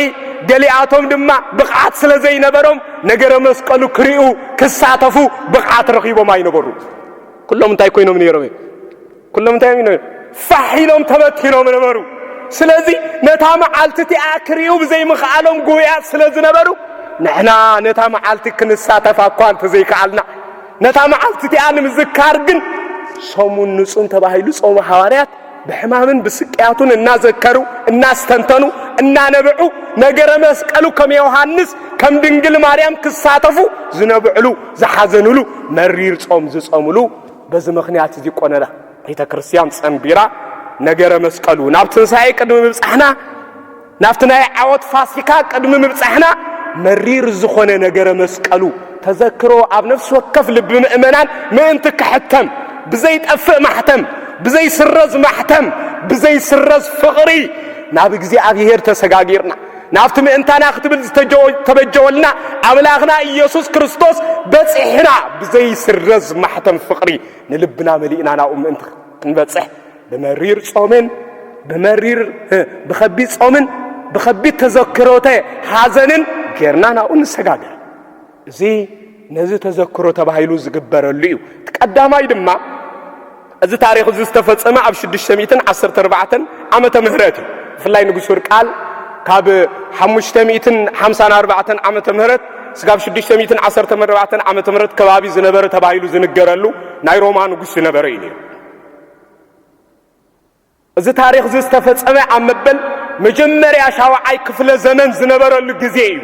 ገሊኣቶም ድማ ብቕዓት ስለ ዘይነበሮም ነገረ መስቀሉ ክሪኡ ክሳተፉ ብቕዓት ረኺቦም ኣይነበሩ ኩሎም እንታይ ኮይኖም ነይሮም እዮም ኩሎም እንታይ እዮም ነይሮም? ፋሕ ኢሎም ተበቲኖም ነበሩ። ስለዚ ነታ መዓልቲ እቲኣ ክርእዩ ብዘይምኽኣሎም ጉህያት ስለ ዝነበሩ ንሕና ነታ መዓልቲ ክንሳተፋ እኳ እንተዘይከኣልና ነታ መዓልቲ እቲኣ ንምዝካር ግን ሰሙን ንጹን ተባሂሉ ጾመ ሃዋርያት ብሕማምን ብስቅያቱን እናዘከሩ እናስተንተኑ እናነበዑ ነገረ መስቀሉ ከም ዮሃንስ ከም ድንግል ማርያም ክሳተፉ ዝነብዕሉ ዝሓዘኑሉ መሪር ጾም ዝጾምሉ በዚ ምኽንያት እዚ ቆነና ቤተ ክርስቲያን ጸንቢራ ነገረ መስቀሉ ናብ ትንሣኤ ቅድሚ ምብጻሕና ናብቲ ናይ ዓወት ፋሲካ ቅድሚ ምብጻሕና መሪር ዝኾነ ነገረ መስቀሉ ተዘክሮ ኣብ ነፍሲ ወከፍ ልቢ ምእመናን ምእንቲ ክሕተም ብዘይጠፍእ ማሕተም ብዘይስረዝ ማሕተም ብዘይስረዝ ፍቕሪ ናብ እግዚኣብሔር ተሰጋጊርና ናብቲ ምእንታና ክትብል ዝተበጀወልና ኣምላኽና ኢየሱስ ክርስቶስ በጺሕና ብዘይስረዝ ማሕተም ፍቕሪ ንልብና መሊእና ናብኡ ምእንቲ ክንበጽሕ ብመሪር ጾምን ብመሪር ብኸቢድ ጾምን ብኸቢድ ተዘክሮተ ሓዘንን ጌርና ናብኡ ንሰጋገር እዚ ነዚ ተዘክሮ ተባሂሉ ዝግበረሉ እዩ። እቲ ቀዳማይ ድማ እዚ ታሪኽ እዚ ዝተፈጸመ ኣብ ሽዱሽተ ሚእትን ዓሰርተ ኣርባዕተን ዓመተ ምህረት እዩ። ብፍላይ ንጉስ ወርቃል ካብ ሓሙሽተ ሚእትን ሓምሳን ኣርባዕተን ዓመተ ምህረት ስጋብ ሽዱሽተ ሚእትን ዓሰርተ ኣርባዕተን ዓመተ ምህረት ከባቢ ዝነበረ ተባሂሉ ዝንገረሉ ናይ ሮማ ንጉስ ዝነበረ እዩ ነይሩ። እዚ ታሪኽዚ ዝተፈጸመ ኣብ መበል መጀመርያ ሻውዓይ ክፍለ ዘመን ዝነበረሉ ግዜ እዩ።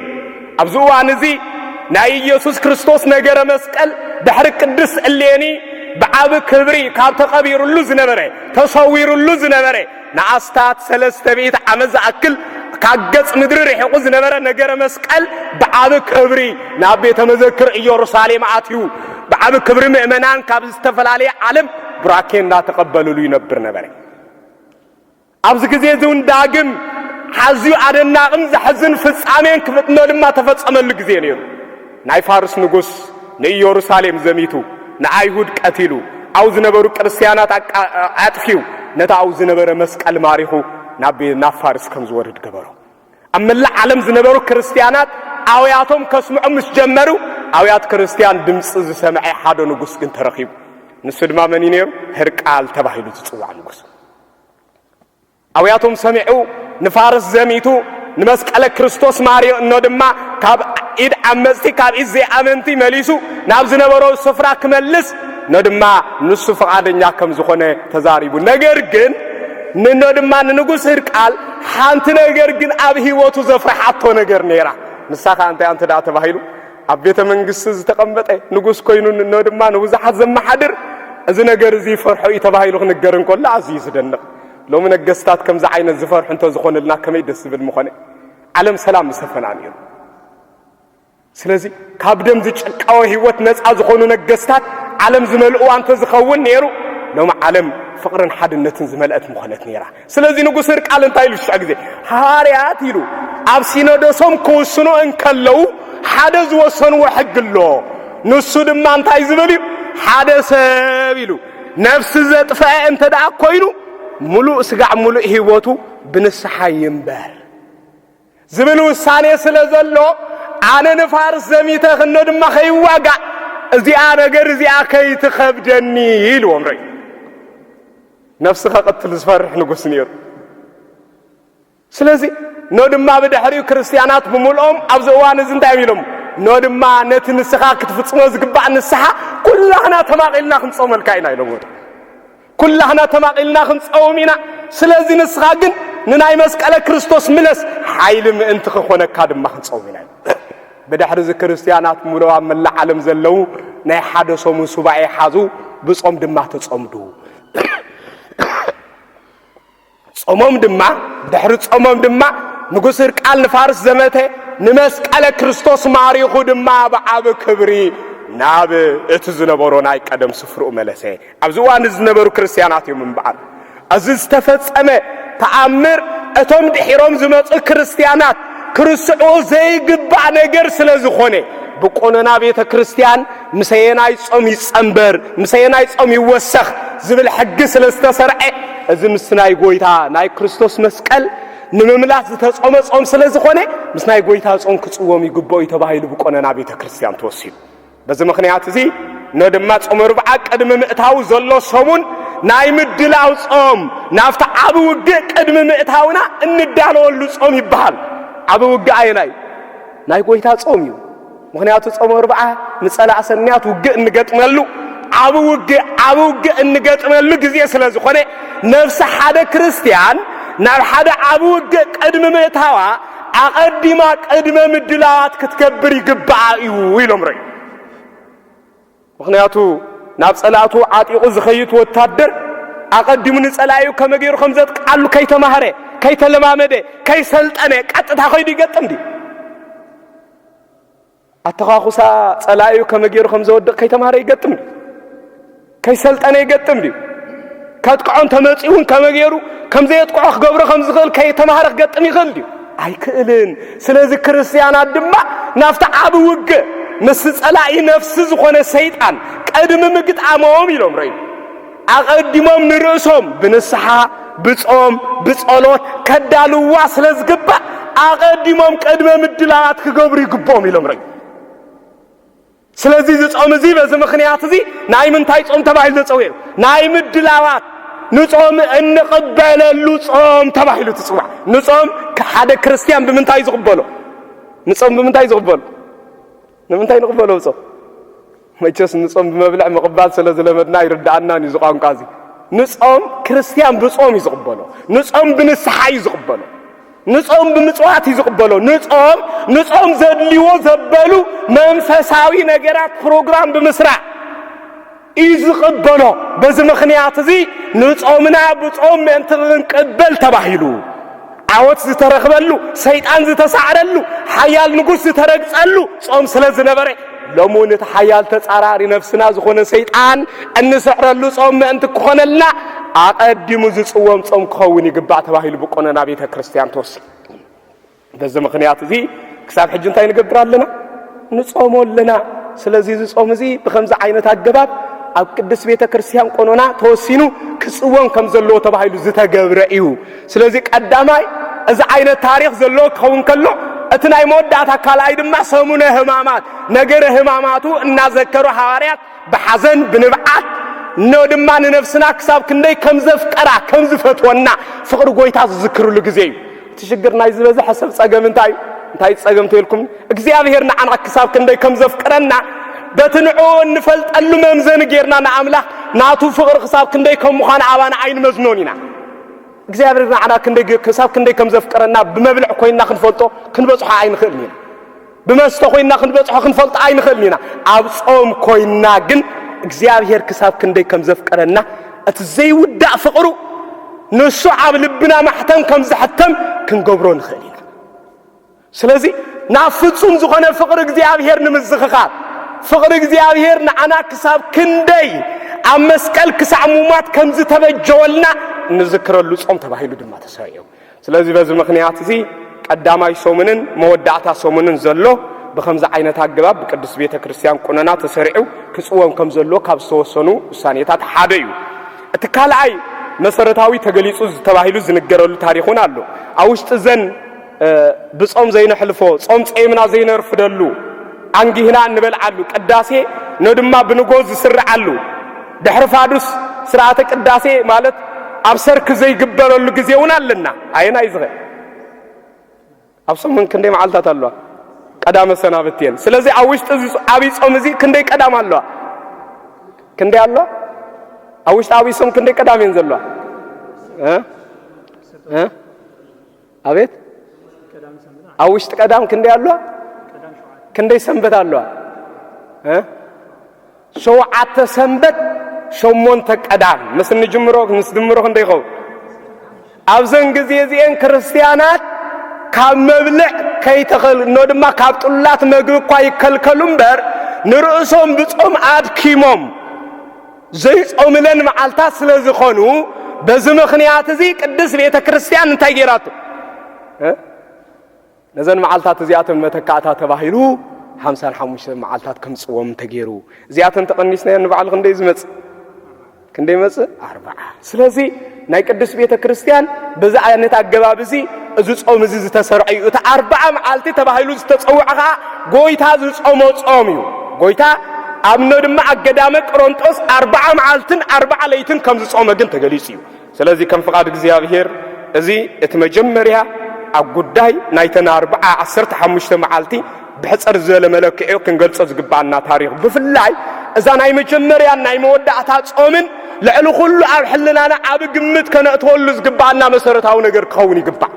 ኣብዚ እዋን እዚ ናይ ኢየሱስ ክርስቶስ ነገረ መስቀል ድሕሪ ቅድስት እሌኒ ብዓቢ ክብሪ ካብ ተቐቢርሉ ዝነበረ ተሰዊርሉ ዝነበረ ንኣስታት ሰለስተ ሚእቲ ዓመት ዝኣክል ካብ ገጽ ምድሪ ርሒቑ ዝነበረ ነገረ መስቀል ብዓቢ ክብሪ ናብ ቤተ መዘክር ኢየሩሳሌም ኣትዩ ብዓቢ ክብሪ ምእመናን ካብ ዝተፈላለየ ዓለም ቡራኬ እናተቐበልሉ ይነብር ነበረ። ኣብዚ ግዜ እዚ እውን ዳግም ኣዝዩ ኣደናቕን ዘሕዝን ፍጻሜን ክፍጥኖ ድማ ተፈጸመሉ ግዜ ነይሩ። ናይ ፋርስ ንጉስ ንኢየሩሳሌም ዘሚቱ ንኣይሁድ ቀቲሉ ኣብ ዝነበሩ ክርስትያናት ኣጥፊኡ ነቲ ኣብ ዝነበረ መስቀል ማሪኹ ናብ ፋርስ ከም ዝወርድ ገበሮ። ኣብ መላእ ዓለም ዝነበሩ ክርስትያናት ኣውያቶም ከስምዑ ምስ ጀመሩ ኣውያት ክርስትያን ድምፂ ዝሰምዐ ሓደ ንጉስ ግን ተረኺቡ ንሱ ድማ መን እዩ ነይሩ ህርቃል ተባሂሉ ዝፅዋዕ ንጉስ ኣውያቶም ሰሚዑ ንፋርስ ዘሚቱ ንመስቀለ ክርስቶስ ማርዮ እኖ ድማ ካብ ኢድ ዓመፅቲ ካብ ኢድ ዘይኣመንቲ መሊሱ ናብ ዝነበሮ ስፍራ ክመልስ እኖ ድማ ንሱ ፍቓደኛ ከም ዝኾነ ተዛሪቡ ነገር ግን ንኖ ድማ ንንጉስ ህርቃል ሓንቲ ነገር ግን ኣብ ህይወቱ ዘፍርሓቶ ነገር ነይራ። ንሳ ከኣ እንታይ እንተ ደኣ ተባሂሉ ኣብ ቤተ መንግስቲ ዝተቐመጠ ንጉስ ኮይኑ እኖ ድማ ንብዙሓት ዘመሓድር እዚ ነገር እዚ ይፈርሖ እዩ ተባሂሉ ክንገር እንከሎ ኣዝዩ ዝደንቕ ሎሚ ነገስታት ከምዚ ዓይነት ዝፈርሑ እንተዝኾንልና ከመይ ደስ ዝብል ምኾነ ዓለም ሰላም ምሰፈና ነይሩ ስለዚ ካብ ደም ዝጭቃወ ህይወት ነፃ ዝኾኑ ነገስታት ዓለም ዝመልእዋ እንተዝኸውን ነይሩ ሎሚ ዓለም ፍቕርን ሓድነትን ዝመልአት ምኾነት ነይራ። ስለዚ ንጉስ ህርቃል እንታይ ኢሉ ሽዑ ግዜ ሃዋርያት ኢሉ ኣብ ሲኖዶሶም ክውስኑ እንከለዉ ሓደ ዝወሰንዎ ሕጊ ኣሎ። ንሱ ድማ እንታይ ዝብል እዩ? ሓደ ሰብ ኢሉ ነፍሲ ዘጥፍአ እንተ ደኣ ኮይኑ ምሉእ ስጋዕ ምሉእ ህይወቱ ብንስሓ ይንበር። ዝብል ውሳኔ ስለ ዘሎ ኣነ ንፋርስ ዘሚተ ክኖ ድማ ከይዋጋእ እዚኣ ነገር እዚኣ ከይትኸብደኒ ኢልዎም ርኢ ነፍሲ ከቕትል ዝፈርሕ ንጉስ ነይሩ ስለዚ ኖ ድማ ብድሕሪኡ ክርስትያናት ብምልኦም ኣብዚ እዋን እዚ እንታይ ኢሎም ኖ ድማ ነቲ ንስኻ ክትፍጽሞ ዝግባእ ንስሓ ኩላህና ተማቒልና ክንጾመልካ ኢና ኢሎም ኩላህና ተማቒልና ክንጸውም ኢና ስለዚ ንስኻ ግን ንናይ መስቀለ ክርስቶስ ምለስ ሓይሊ ምእንቲ ክኾነካ ድማ ክንጸውም ኢና ብድሕሪ እዚ ክርስትያናት ሙሉእ ኣብ መላእ ዓለም ዘለዉ ናይ ሓደ ሰሙን ሱባኤ ሓዙ ብጾም ድማ ተጸምዱ ጾሞም ድማ ድሕሪ ጾሞም ድማ ንጉስ ህርቃል ንፋርስ ዘመተ ንመስቀለ ክርስቶስ ማሪኹ ድማ ብዓብ ክብሪ ናብ እቲ ዝነበሮ ናይ ቀደም ስፍርኡ መለሰ። ኣብዚ እዋን ዝነበሩ ክርስትያናት እዮም እምበኣር እዚ ዝተፈጸመ ተኣምር እቶም ድሒሮም ዝመጹ ክርስትያናት ክርስዑ ዘይግባእ ነገር ስለ ዝኾነ ብቆኖና ቤተ ክርስቲያን ምሰየናይ ጾም ይጸንበር፣ ምሰየናይ ጾም ይወሰኽ ዝብል ሕጊ ስለ ዝተሰርዐ፣ እዚ ምስ ናይ ጎይታ ናይ ክርስቶስ መስቀል ንምምላስ ዝተጾመ ጾም ስለ ዝኾነ ምስ ናይ ጎይታ ጾም ክጽወም ይግብኦ እዩ ተባሂሉ ብቆነና ቤተ ክርስቲያን ተወሲኑ። በዚ ምክንያት እዚ ነ ድማ ጾመ ርብዓ ቅድሚ ምእታው ዘሎ ሰሙን ናይ ምድላው ጾም ናብቲ ዓቢ ውግእ ቅድሚ ምእታውና እንዳለወሉ ጾም ይበሃል። ዓቢ ውግእ ኣየናይ ናይ ጎይታ ጾም እዩ። ምክንያቱ ጾመ ርብዓ ንጸላእ ሰናያት ውግእ እንገጥመሉ ዓብ ውግእ ዓብ ውግእ እንገጥመሉ ግዜ ስለ ዝኾነ ነፍሲ ሓደ ክርስትያን ናብ ሓደ ዓብ ውግእ ቅድሚ ምእታዋ ኣቐዲማ ቅድመ ምድላዋት ክትገብር ይግብኣ እዩ ኢሎም ረዩ ምኽንያቱ ናብ ጸላእቱ ዓጢቑ ዝኸይት ወታደር ኣቐዲሙ ንጸላኢኡ ከመ ገይሩ ከም ዘጥቃሉ ከይተማህረ፣ ከይተለማመደ፣ ከይሰልጠነ ቀጥታ ከይዱ ይገጥም ድዩ? ኣተኻኹሳ ጸላኢኡ ከመ ገይሩ ከም ዘወድቕ ከይተማህረ ይገጥም ድዩ? ከይሰልጠነ ይገጥም ድዩ? ከጥቅዖ እንተመጺኡ እውን ከመይ ገይሩ ከም ዘየጥቅዖ ክገብሮ ከም ዝኽእል ከይተማህረ ክገጥም ይኽእል ድዩ? ኣይክእልን። ስለዚ ክርስትያናት ድማ ናብቲ ዓቢ ውግ ምስ ጸላኢ ነፍሲ ዝኾነ ሰይጣን ቀድሚ ምግጣሞም ኢሎም ረዩ ኣቐዲሞም ንርእሶም ብንስሓ ብጾም ብጸሎት ከዳልዋ ስለ ዝግባእ ኣቐዲሞም ቅድመ ምድላዋት ክገብሩ ይግብኦም ኢሎም ረዩ ስለዚ እዚ ጾም እዚ በዚ ምኽንያት እዚ ናይ ምንታይ ጾም ተባሂሉ ተጸዊዑ? ናይ ምድላዋት ንጾም እንቕበለሉ ጾም ተባሂሉ ትጽዋዕ። ንጾም ሓደ ክርስትያን ብምንታይ ዝቕበሎ? ንጾም ብምንታይ ዝቕበሎ? ንምንታይ ንቕበሎ ጾም? መቸስ ንጾም ብመብልዕ ምቕባል ስለ ዝለመድና ይርድኣናን እዩ ዝቋንቋ እዚ ንጾም ክርስትያን ብጾም እዩ ዝቕበሎ ንጾም ብንስሓ እዩ ዝቕበሎ ንጾም ብምጽዋት እዩ ዝቕበሎ። ንጾም ንጾም ዘድልዎ ዘበሉ መንፈሳዊ ነገራት ፕሮግራም ብምስራዕ እዩ ዝቕበሎ። በዚ ምኽንያት እዚ ንጾምና ብጾም ምእንቲ ክንቅበል ተባሂሉ ዓወት ዝተረኽበሉ ሰይጣን ዝተሳዕረሉ ሓያል ንጉስ ዝተረግጸሉ ጾም ስለ ዝነበረ ሎሚ እውን እቲ ሓያል ተጻራሪ ነፍስና ዝኾነ ሰይጣን እንስዕረሉ ጾም ምእንቲ ክኾነልና ኣቐዲሙ ዝጽወም ጾም ክኸውን ይግባእ ተባሂሉ ብቆነና ቤተ ክርስቲያን ተወሲኑ። በዚ ምኽንያት እዚ ክሳብ ሕጂ እንታይ ንገብር ኣለና? ንጾሞ ኣለና። ስለዚ እዚ ጾም እዚ ብከምዚ ዓይነት ኣገባብ ኣብ ቅድስት ቤተ ክርስቲያን ቆኖና ተወሲኑ ክጽወም ከም ዘለዎ ተባሂሉ ዝተገብረ እዩ። ስለዚ ቀዳማይ እዚ ዓይነት ታሪኽ ዘለዎ ክኸውን ከሎ እቲ ናይ መወዳእታ ካልኣይ ድማ ሰሙነ ህማማት ነገረ ህማማቱ እናዘከሩ ሃዋርያት ብሓዘን ብንብዓት ን ድማ ንነፍስና ክሳብ ክንደይ ከም ዘፍቀራ ከም ዝፈትወና ፍቕሪ ጎይታ ዝዝክርሉ ግዜ እዩ እቲ ሽግር ናይ ዝበዝሐ ሰብ ጸገም እንታይ እዩ እንታይ ጸገም ተልኩም እግዚኣብሄር ንዓና ክሳብ ክንደይ ከም ዘፍቅረና በቲ ንዕኡ እንፈልጠሉ መምዘኒ ጌርና ንኣምላኽ ናቱ ፍቕሪ ክሳብ ክንደይ ከም ምዃኑ ኣባና ኣይንመዝኖን ኢና እግዚኣብሔር ንዓና ክንደይ ክሳብ ክንደይ ከም ዘፍቀረና ብመብልዕ ኮይንና ክንፈልጦ ክንበጽሖ ኣይንኽእልን ኢና። ብመስተ ኮይንና ክንበጽሖ ክንፈልጦ ኣይንኽእልን ኢና። ኣብ ጾም ኮይንና ግን እግዚኣብሔር ክሳብ ክንደይ ከም ዘፍቀረና እቲ ዘይውዳእ ፍቕሩ ንሱ ኣብ ልብና ማሕተም ከም ዝሕተም ክንገብሮ ንኽእል ኢና። ስለዚ ናብ ፍጹም ዝኾነ ፍቕሪ እግዚኣብሔር ንምዝኽኻር፣ ፍቕሪ እግዚኣብሔር ንዓና ክሳብ ክንደይ ኣብ መስቀል ክሳዕ ሙማት ከም ዝተበጀወልና እንዝክረሉ ጾም ተባሂሉ ድማ ተሰሪዑ። ስለዚ በዚ ምኽንያት እዚ ቀዳማይ ሰሙንን መወዳእታ ሰሙንን ዘሎ ብከምዚ ዓይነት ኣገባብ ብቅዱስ ቤተ ክርስቲያን ቁነና ተሰሪዑ ክጽወም ከም ዘለዎ ካብ ዝተወሰኑ ውሳኔታት ሓደ እዩ። እቲ ካልኣይ መሰረታዊ ተገሊጹ ዝተባሂሉ ዝንገረሉ ታሪኽ እውን ኣሎ። ኣብ ውሽጢ ዘን ብጾም ዘይነሕልፎ፣ ጾም ጸይምና ዘይነርፍደሉ፣ ኣንጊህና እንበልዓሉ፣ ቅዳሴ ነድማ ብንጎ ዝስርዓሉ፣ ድሕሪ ፋዱስ ስርዓተ ቅዳሴ ማለት ኣብ ሰርክ ዘይግበረሉ ግዜ እውን ኣለና። ኣየናይ ዝኸ ኣብ ሰሙን ክንደይ መዓልታት ኣለዋ? ቀዳመ ሰናብት እየን። ስለዚ ኣብ ውሽጢ እዚ ዓብይ ጾም እዚ ክንደይ ቀዳም ኣለዋ? ክንደይ ኣለዋ? ኣብ ውሽጢ ዓብይ ጾም ክንደይ ቀዳም እየን ዘለዋ? ኣቤት ኣብ ውሽጢ ቀዳም ክንደይ ኣለዋ ክንደይ ሰንበት ኣለዋ እ ሸውዓተ ሰንበት ሸሞንተ ቀዳም ምስ እንጅምሮ ምስ ድምሮ ክንደይ ይኸውን ኣብዘን ግዜ እዚኤን ክርስትያናት ካብ መብልዕ ከይተኸልኖ ድማ ካብ ጥሉላት መግቢ እኳ ይከልከሉ እምበር ንርእሶም ብጾም ኣድኪሞም ዘይጾምለን መዓልታት ስለ ዝኾኑ በዚ ምኽንያት እዚ ቅድስት ቤተ ክርስቲያን እንታይ ጌራቶ ነዘን መዓልታት እዚኣተን መተካእታ ተባሂሉ ሓምሳን ሓሙሽተ መዓልታት ከምፅዎም ተገይሩ እዚኣተን ተቐኒስናዮ ንባዕሉ ክንደይ ዝመፅእ ክንደይ መፅእ ኣርባዓ ስለዚ ናይ ቅዱስ ቤተ ክርስቲያን በዚ ዓይነት ኣገባብ እዚ እዚ ጾም እዚ ዝተሰርዐ እዩ እቲ ኣርብዓ መዓልቲ ተባሂሉ ዝተጸውዐ ኸዓ ጎይታ ዝጾሞ ጾም እዩ ጎይታ ኣብኖ ድማ ኣብ ገዳመ ቅሮንጦስ ኣርብዓ መዓልትን ኣርብዓ ለይትን ከም ዝጾመ ግን ተገሊጹ እዩ ስለዚ ከም ፍቓድ እግዚኣብሔር እዚ እቲ መጀመርያ ኣብ ጉዳይ ናይተን ኣርብዓ ዓሰርተ ሓሙሽተ መዓልቲ ብሕጽር ዝበለ መለክዒኡ ክንገልጾ ዝግብኣና ታሪኽ ብፍላይ እዛ ናይ መጀመርያን ናይ መወዳእታ ጾምን ልዕሊ ኩሉ ኣብ ሕልናና ኣብ ግምት ከነእትወሉ ዝግብኣና መሰረታዊ ነገር ክኸውን ይግባእ።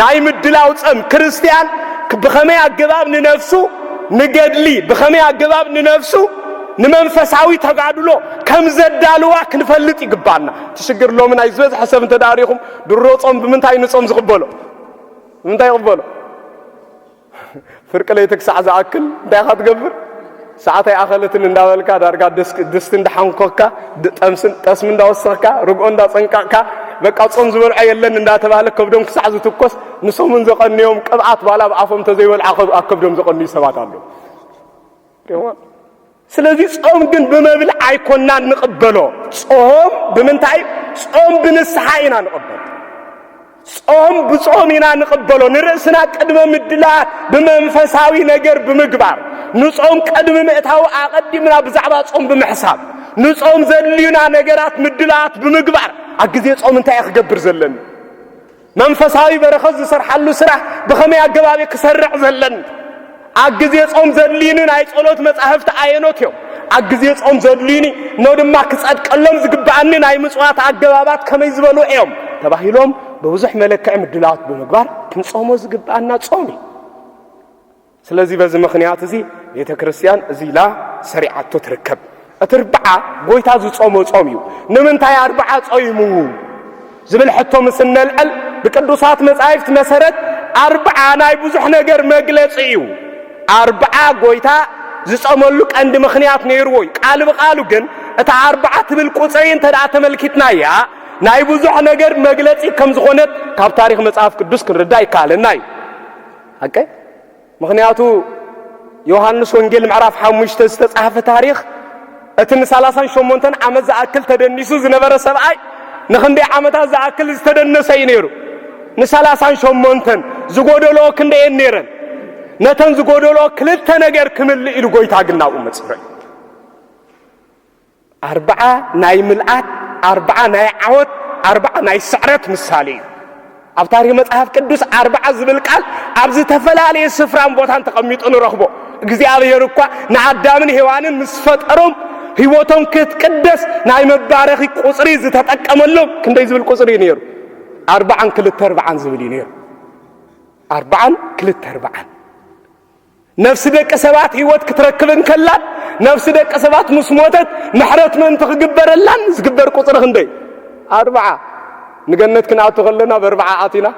ናይ ምድላው ጸም ክርስትያን ብኸመይ ኣገባብ ንነፍሱ ንገድሊ ብኸመይ ኣገባብ ንነፍሱ ንመንፈሳዊ ተጋድሎ ከም ዘዳልዋ ክንፈልጥ ይግባና እቲ ሽግር ሎሚ ናይ ዝበዝሐ ሰብ እንተዳሪኹም ድሮ ጾም ብምንታይ ንጾም ዝቕበሎ ብምንታይ ይቕበሎ ፍርቂ ለይቲ ክሳዕ ዝኣክል እንታይ ኢኻ ትገብር? ሰዓት ኣይኣኸለትን እንዳበልካ ዳርጋ ድስቲ እንዳሓንኮካ ጠስሚ እንዳወሰኽካ ርግኦ እንዳጸንቀቕካ በቃ ጾም ዝበልዖ የለን እንዳተባህለ ከብዶም ክሳዕ ዝትኮስ ንሶምን ዘቐንዮም ቅብኣት ባላ ብኣፎም ተዘይበልዓ ኣብ ከብዶም ዘቐንዩ ሰባት ኣለዉ። ስለዚ ጾም ግን ብመብል ኣይኮናን ንቕበሎ። ጾም ብምንታይ? ጾም ብንስሓ ኢና ንቕበሎ። ጾም ብጾም ኢና ንቕበሎ። ንርእስና ቅድመ ምድላት ብመንፈሳዊ ነገር ብምግባር ንጾም ቅድሚ ምእታዊ ኣቐዲምና ብዛዕባ ጾም ብምሕሳብ ንጾም ዘድልዩና ነገራት ምድላት ብምግባር ኣብ ግዜ ጾም እንታይ ክገብር ዘለኒ መንፈሳዊ በረኸት ዝሰርሓሉ ስራሕ ብኸመይ ኣገባብ እዩ ክሰርዕ ዘለን? ኣብ ግዜ ጾም ዘድልዩኒ ናይ ጸሎት መጻሕፍቲ ኣየኖት እዮም? ኣብ ግዜ ጾም ዘድልዩኒ እኖ ድማ ክጸድቀሎም ዝግብኣኒ ናይ ምጽዋት ኣገባባት ከመይ ዝበሉ እዮም? ተባሂሎም ብብዙሕ መለክዒ ምድላዋት ብምግባር ክንጾሞ ዝግብኣና ጾም እዩ። ስለዚ በዚ ምኽንያት እዚ ቤተ ክርስቲያን እዚ ኢላ ሰሪዓቶ ትርከብ። እቲ ርብዓ ጎይታ ዝጾሞ ጾም እዩ። ንምንታይ ኣርብዓ ጾይሙ ዝብል ሕቶ ምስ እነልዕል ብቅዱሳት መጻሕፍት መሰረት ኣርብዓ ናይ ብዙሕ ነገር መግለጺ እዩ። ኣርብዓ ጎይታ ዝጸመሉ ቀንዲ ምኽንያት ነይርዎ እዩ። ቃል ብቃሉ ግን እታ ኣርብዓ ትብል ቁጽሪ እንተ ተመልኪትና እያ ናይ ብዙሕ ነገር መግለጺ ከም ዝኾነት ካብ ታሪኽ መጽሐፍ ቅዱስ ክንርዳእ ይከኣለና እዩ። ሓቀይ ምኽንያቱ ዮሃንስ ወንጌል ምዕራፍ ሓሙሽተ ዝተጻሕፈ ታሪኽ እቲ ንሳላሳን ሸሞንተን ዓመት ዝኣክል ተደኒሱ ዝነበረ ሰብኣይ ንክንደይ ዓመታት ዝኣክል ዝተደነሰ እዩ ነይሩ ንሳላሳን ሸሞንተን ዝጎደልኦ ክንደየን ነይረን ነተን ዝጎደልኦ ክልተ ነገር ክምልእ ኢሉ ጎይታ ግናብኡ መጽበ ኣርብዓ ናይ ምልኣት፣ ኣርብዓ ናይ ዓወት፣ ኣርብዓ ናይ ስዕረት ምሳሌ እዩ። ኣብ ታሪኽ መጽሓፍ ቅዱስ ኣርብዓ ዝብል ቃል ኣብ ዝተፈላለየ ስፍራን ቦታን ተቐሚጡ ንረኽቦ። እግዚኣብሔር እኳ ንኣዳምን ሔዋንን ምስ ፈጠሮም ህይወቶም ክትቅደስ ናይ መባረኺ ቁፅሪ ዝተጠቀመሎም ክንደይ ዝብል ቁፅሪ እዩ ነይሩ? ኣርባዓን ክልተ ኣርባዓን ዝብል እዩ ነይሩ። ኣርባዓን ክልተ ኣርባዓን ነፍሲ ደቂ ሰባት ህይወት ክትረክብ እንከላን ነፍሲ ደቂ ሰባት ምስ ሞተት ምሕረት ምእንቲ ክግበረላን ዝግበር ቁፅሪ ክንደይ ኣርብዓ ንገነት ክንኣቱ ከለና በርብዓ ኣቲና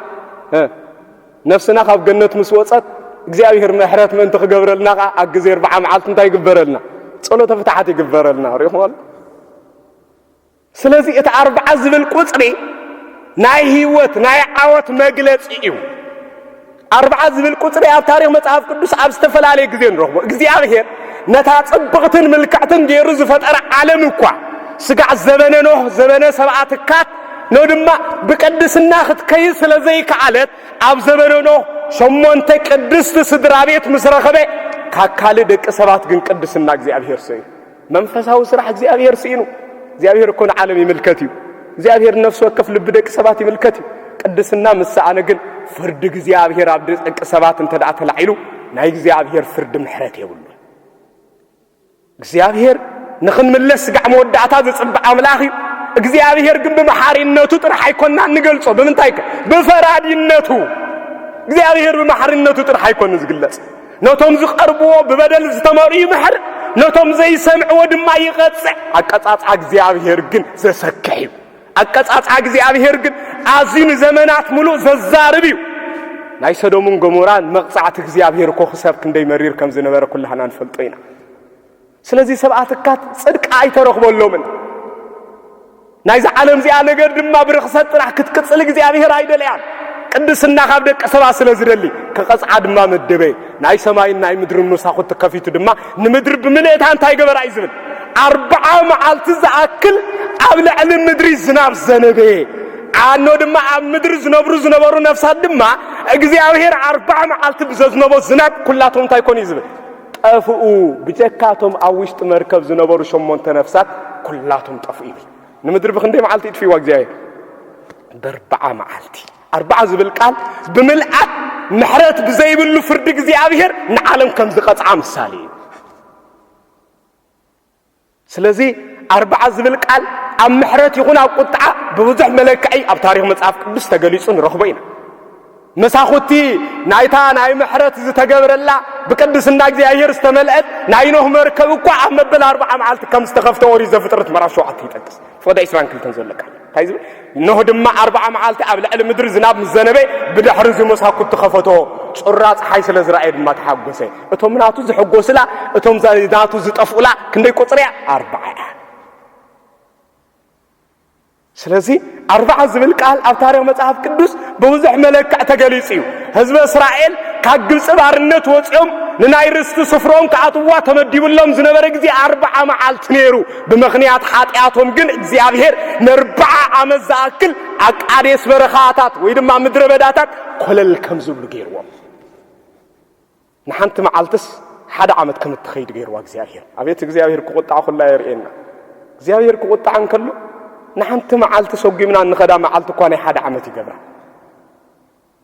ነፍስና ካብ ገነት ምስ ወፀት እግዚኣብሔር ምሕረት ምእንቲ ክገብረልና ከዓ ኣብ ግዜ ኣርብዓ መዓልቲ እንታይ ይግበረልና ጸሎተ ፍትሓት ይግበረልና ሪኹም ስለዚ እቲ ኣርብዓ ዝብል ቁጽሪ ናይ ህይወት ናይ ዓወት መግለጺ እዩ። ኣርብዓ ዝብል ቁጽሪ ኣብ ታሪኽ መጽሓፍ ቅዱስ ኣብ ዝተፈላለየ ግዜ ንረኽቦ። እግዚኣብሔር ነታ ጽብቕትን ምልክዕትን ገይሩ ዝፈጠረ ዓለም እኳ ስጋዕ ዘበነ ኖህ ዘበነ ሰብኣ ትካት ኖ ድማ ብቅድስና ክትከይድ ስለ ዘይከኣለት ኣብ ዘበነ ኖህ ሸሞንተ ቅድስቲ ስድራ ቤት ምስ ረኸበ ካካል ደቂ ሰባት ግን ቅድስና እግዚኣብሔር ሰዩ መንፈሳዊ ስራሕ እግዚኣብሔር ስኢኑ እግዚኣብሔር እኮ ንዓለም ይምልከት እዩ እግዚኣብሔር ንነፍሲ ወከፍ ልቢ ደቂ ሰባት ይምልከት እዩ ቅድስና ምስ ሰኣነ ግን ፍርዲ እግዚኣብሔር ኣብ ደቂ ሰባት እንተ ደኣ ተላዒሉ ናይ እግዚኣብሔር ፍርዲ ምሕረት የብሉ እግዚኣብሔር ንኽንምለስ ስጋዕ መወዳእታ ዝጽብዕ ኣምላኽ እዩ እግዚኣብሔር ግን ብመሓሪነቱ ጥራሕ ኣይኮና እንገልጾ ብምንታይ ከ ብፈራዲነቱ እግዚኣብሔር ብመሓሪነቱ ጥራሕ ኣይኮኑ ዝግለጽ ነቶም ዝቐርብዎ ብበደል ዝተመርኡ ይምሕር፣ ነቶም ዘይሰምዕዎ ድማ ይቐጽዕ። ኣቀጻጽዓ እግዚኣብሔር ግን ዘሰክሕ እዩ። ኣቀጻጽዓ እግዚኣብሔር ግን ኣዝዩ ንዘመናት ምሉእ ዘዛርብ እዩ። ናይ ሰዶምን ገሞራን መቕጻዕቲ እግዚኣብሔር እኮ ክሳብ ክንደይ መሪር ከም ዝነበረ ኩላህና ንፈልጦ ኢና። ስለዚ ሰብኣ ትካት ጽድቂ ኣይተረኽበሎምን። ናይዛ ዓለም እዚኣ ነገር ድማ ብርኽሰት ጥራሕ ክትቅጽል እግዚኣብሔር ኣይደለያን። ቅድስና ካብ ደቂ ሰባ ስለ ዝደሊ ክቐጽዓ ድማ መደበ ናይ ሰማይን ናይ ምድርን መሳኹቲ ከፊቱ ድማ ንምድሪ ብምልእታ እንታይ ገበራ እዩ ዝብል ኣርብዓ መዓልቲ ዝኣክል ኣብ ልዕሊ ምድሪ ዝናብ ዘነበ ዓኖ ድማ ኣብ ምድሪ ዝነብሩ ዝነበሩ ነፍሳት ድማ እግዚኣብሔር ኣርብዓ መዓልቲ ብዘዝነቦ ዝናብ ኩላቶም እንታይ ኮኑ እዩ ዝብል ጠፍኡ፣ ብጀካ እቶም ኣብ ውሽጢ መርከብ ዝነበሩ ሸሞንተ ነፍሳት ኵላቶም ጠፍኡ ይብል። ንምድሪ ብኽንደይ መዓልቲ እጥፍእዋ እግዚኣብሄር? በርብዓ መዓልቲ። ኣርብዓ ዝብል ቃል ብምልኣት ምሕረት ብዘይብሉ ፍርዲ እግዚኣብሄር ንዓለም ከም ዝቐጽዓ ምሳሌ እዩ። ስለዚ ኣርብዓ ዝብል ቃል ኣብ ምሕረት ይኹን ኣብ ቁጥዓ ብብዙሕ መለክዒ ኣብ ታሪኽ መጽሓፍ ቅዱስ ተገሊጹ ንረኽቦ ኢና። መሳኹቲ ናይታ ናይ ምሕረት ዝተገብረላ ብቅድስና እግዚኣብሔር ዝተመልአት ናይ ኖህ መርከብ እኳ ኣብ መበል ኣርብዓ መዓልቲ ከም ዝተኸፍተ ኦሪት ዘፍጥረት ምዕራፍ ሸውዓተ ይጠቅስ። ፎደ ዕስራን ክልተን ዘሎ ቃል እንታይ ዝብል እነሆ ድማ ኣርብዓ መዓልቲ ኣብ ልዕሊ ምድሪ ዝናብ ምስ ዘነበ ብድሕሪ እዚ መሳኩት ተኸፈቶ ጩራ ፀሓይ ስለ ዝረኣየ ድማ ተሓጎሰ እቶም ናቱ ዝሕጎስላ እቶም ናቱ ዝጠፍኡላ ክንደይ ቁፅሪ እያ ኣርብዓ እያ ስለዚ ኣርባዓ ዝብል ቃል ኣብ ታሪክ መጽሓፍ ቅዱስ ብብዙሕ መለክዕ ተገሊጹ እዩ ህዝበ እስራኤል ካብ ግብፂ ባርነት ወፂኦም ንናይ ርስቲ ስፍሮም ክኣትዋ ተመዲብሎም ዝነበረ ግዜ ኣርባዓ መዓልቲ ነይሩ ብምኽንያት ሓጢኣቶም ግን እግዚኣብሄር ንኣርብዓ ዓመት ዝኣክል ኣብ ቃዴስ በረኻታት ወይ ድማ ምድረ በዳታት ኮለል ከም ዝብሉ ገይርዎም። ንሓንቲ መዓልትስ ሓደ ዓመት ከም እትኸይድ ገይርዋ እግዚኣብሄር። ኣቤት እግዚኣብሄር ክቑጣዕ ኩላ የርእየና። እግዚኣብሄር ክቑጣዕ እንከሎ ንሓንቲ መዓልቲ ሰጒምና እንኸዳ መዓልቲ እኳ ናይ ሓደ ዓመት ይገብራ።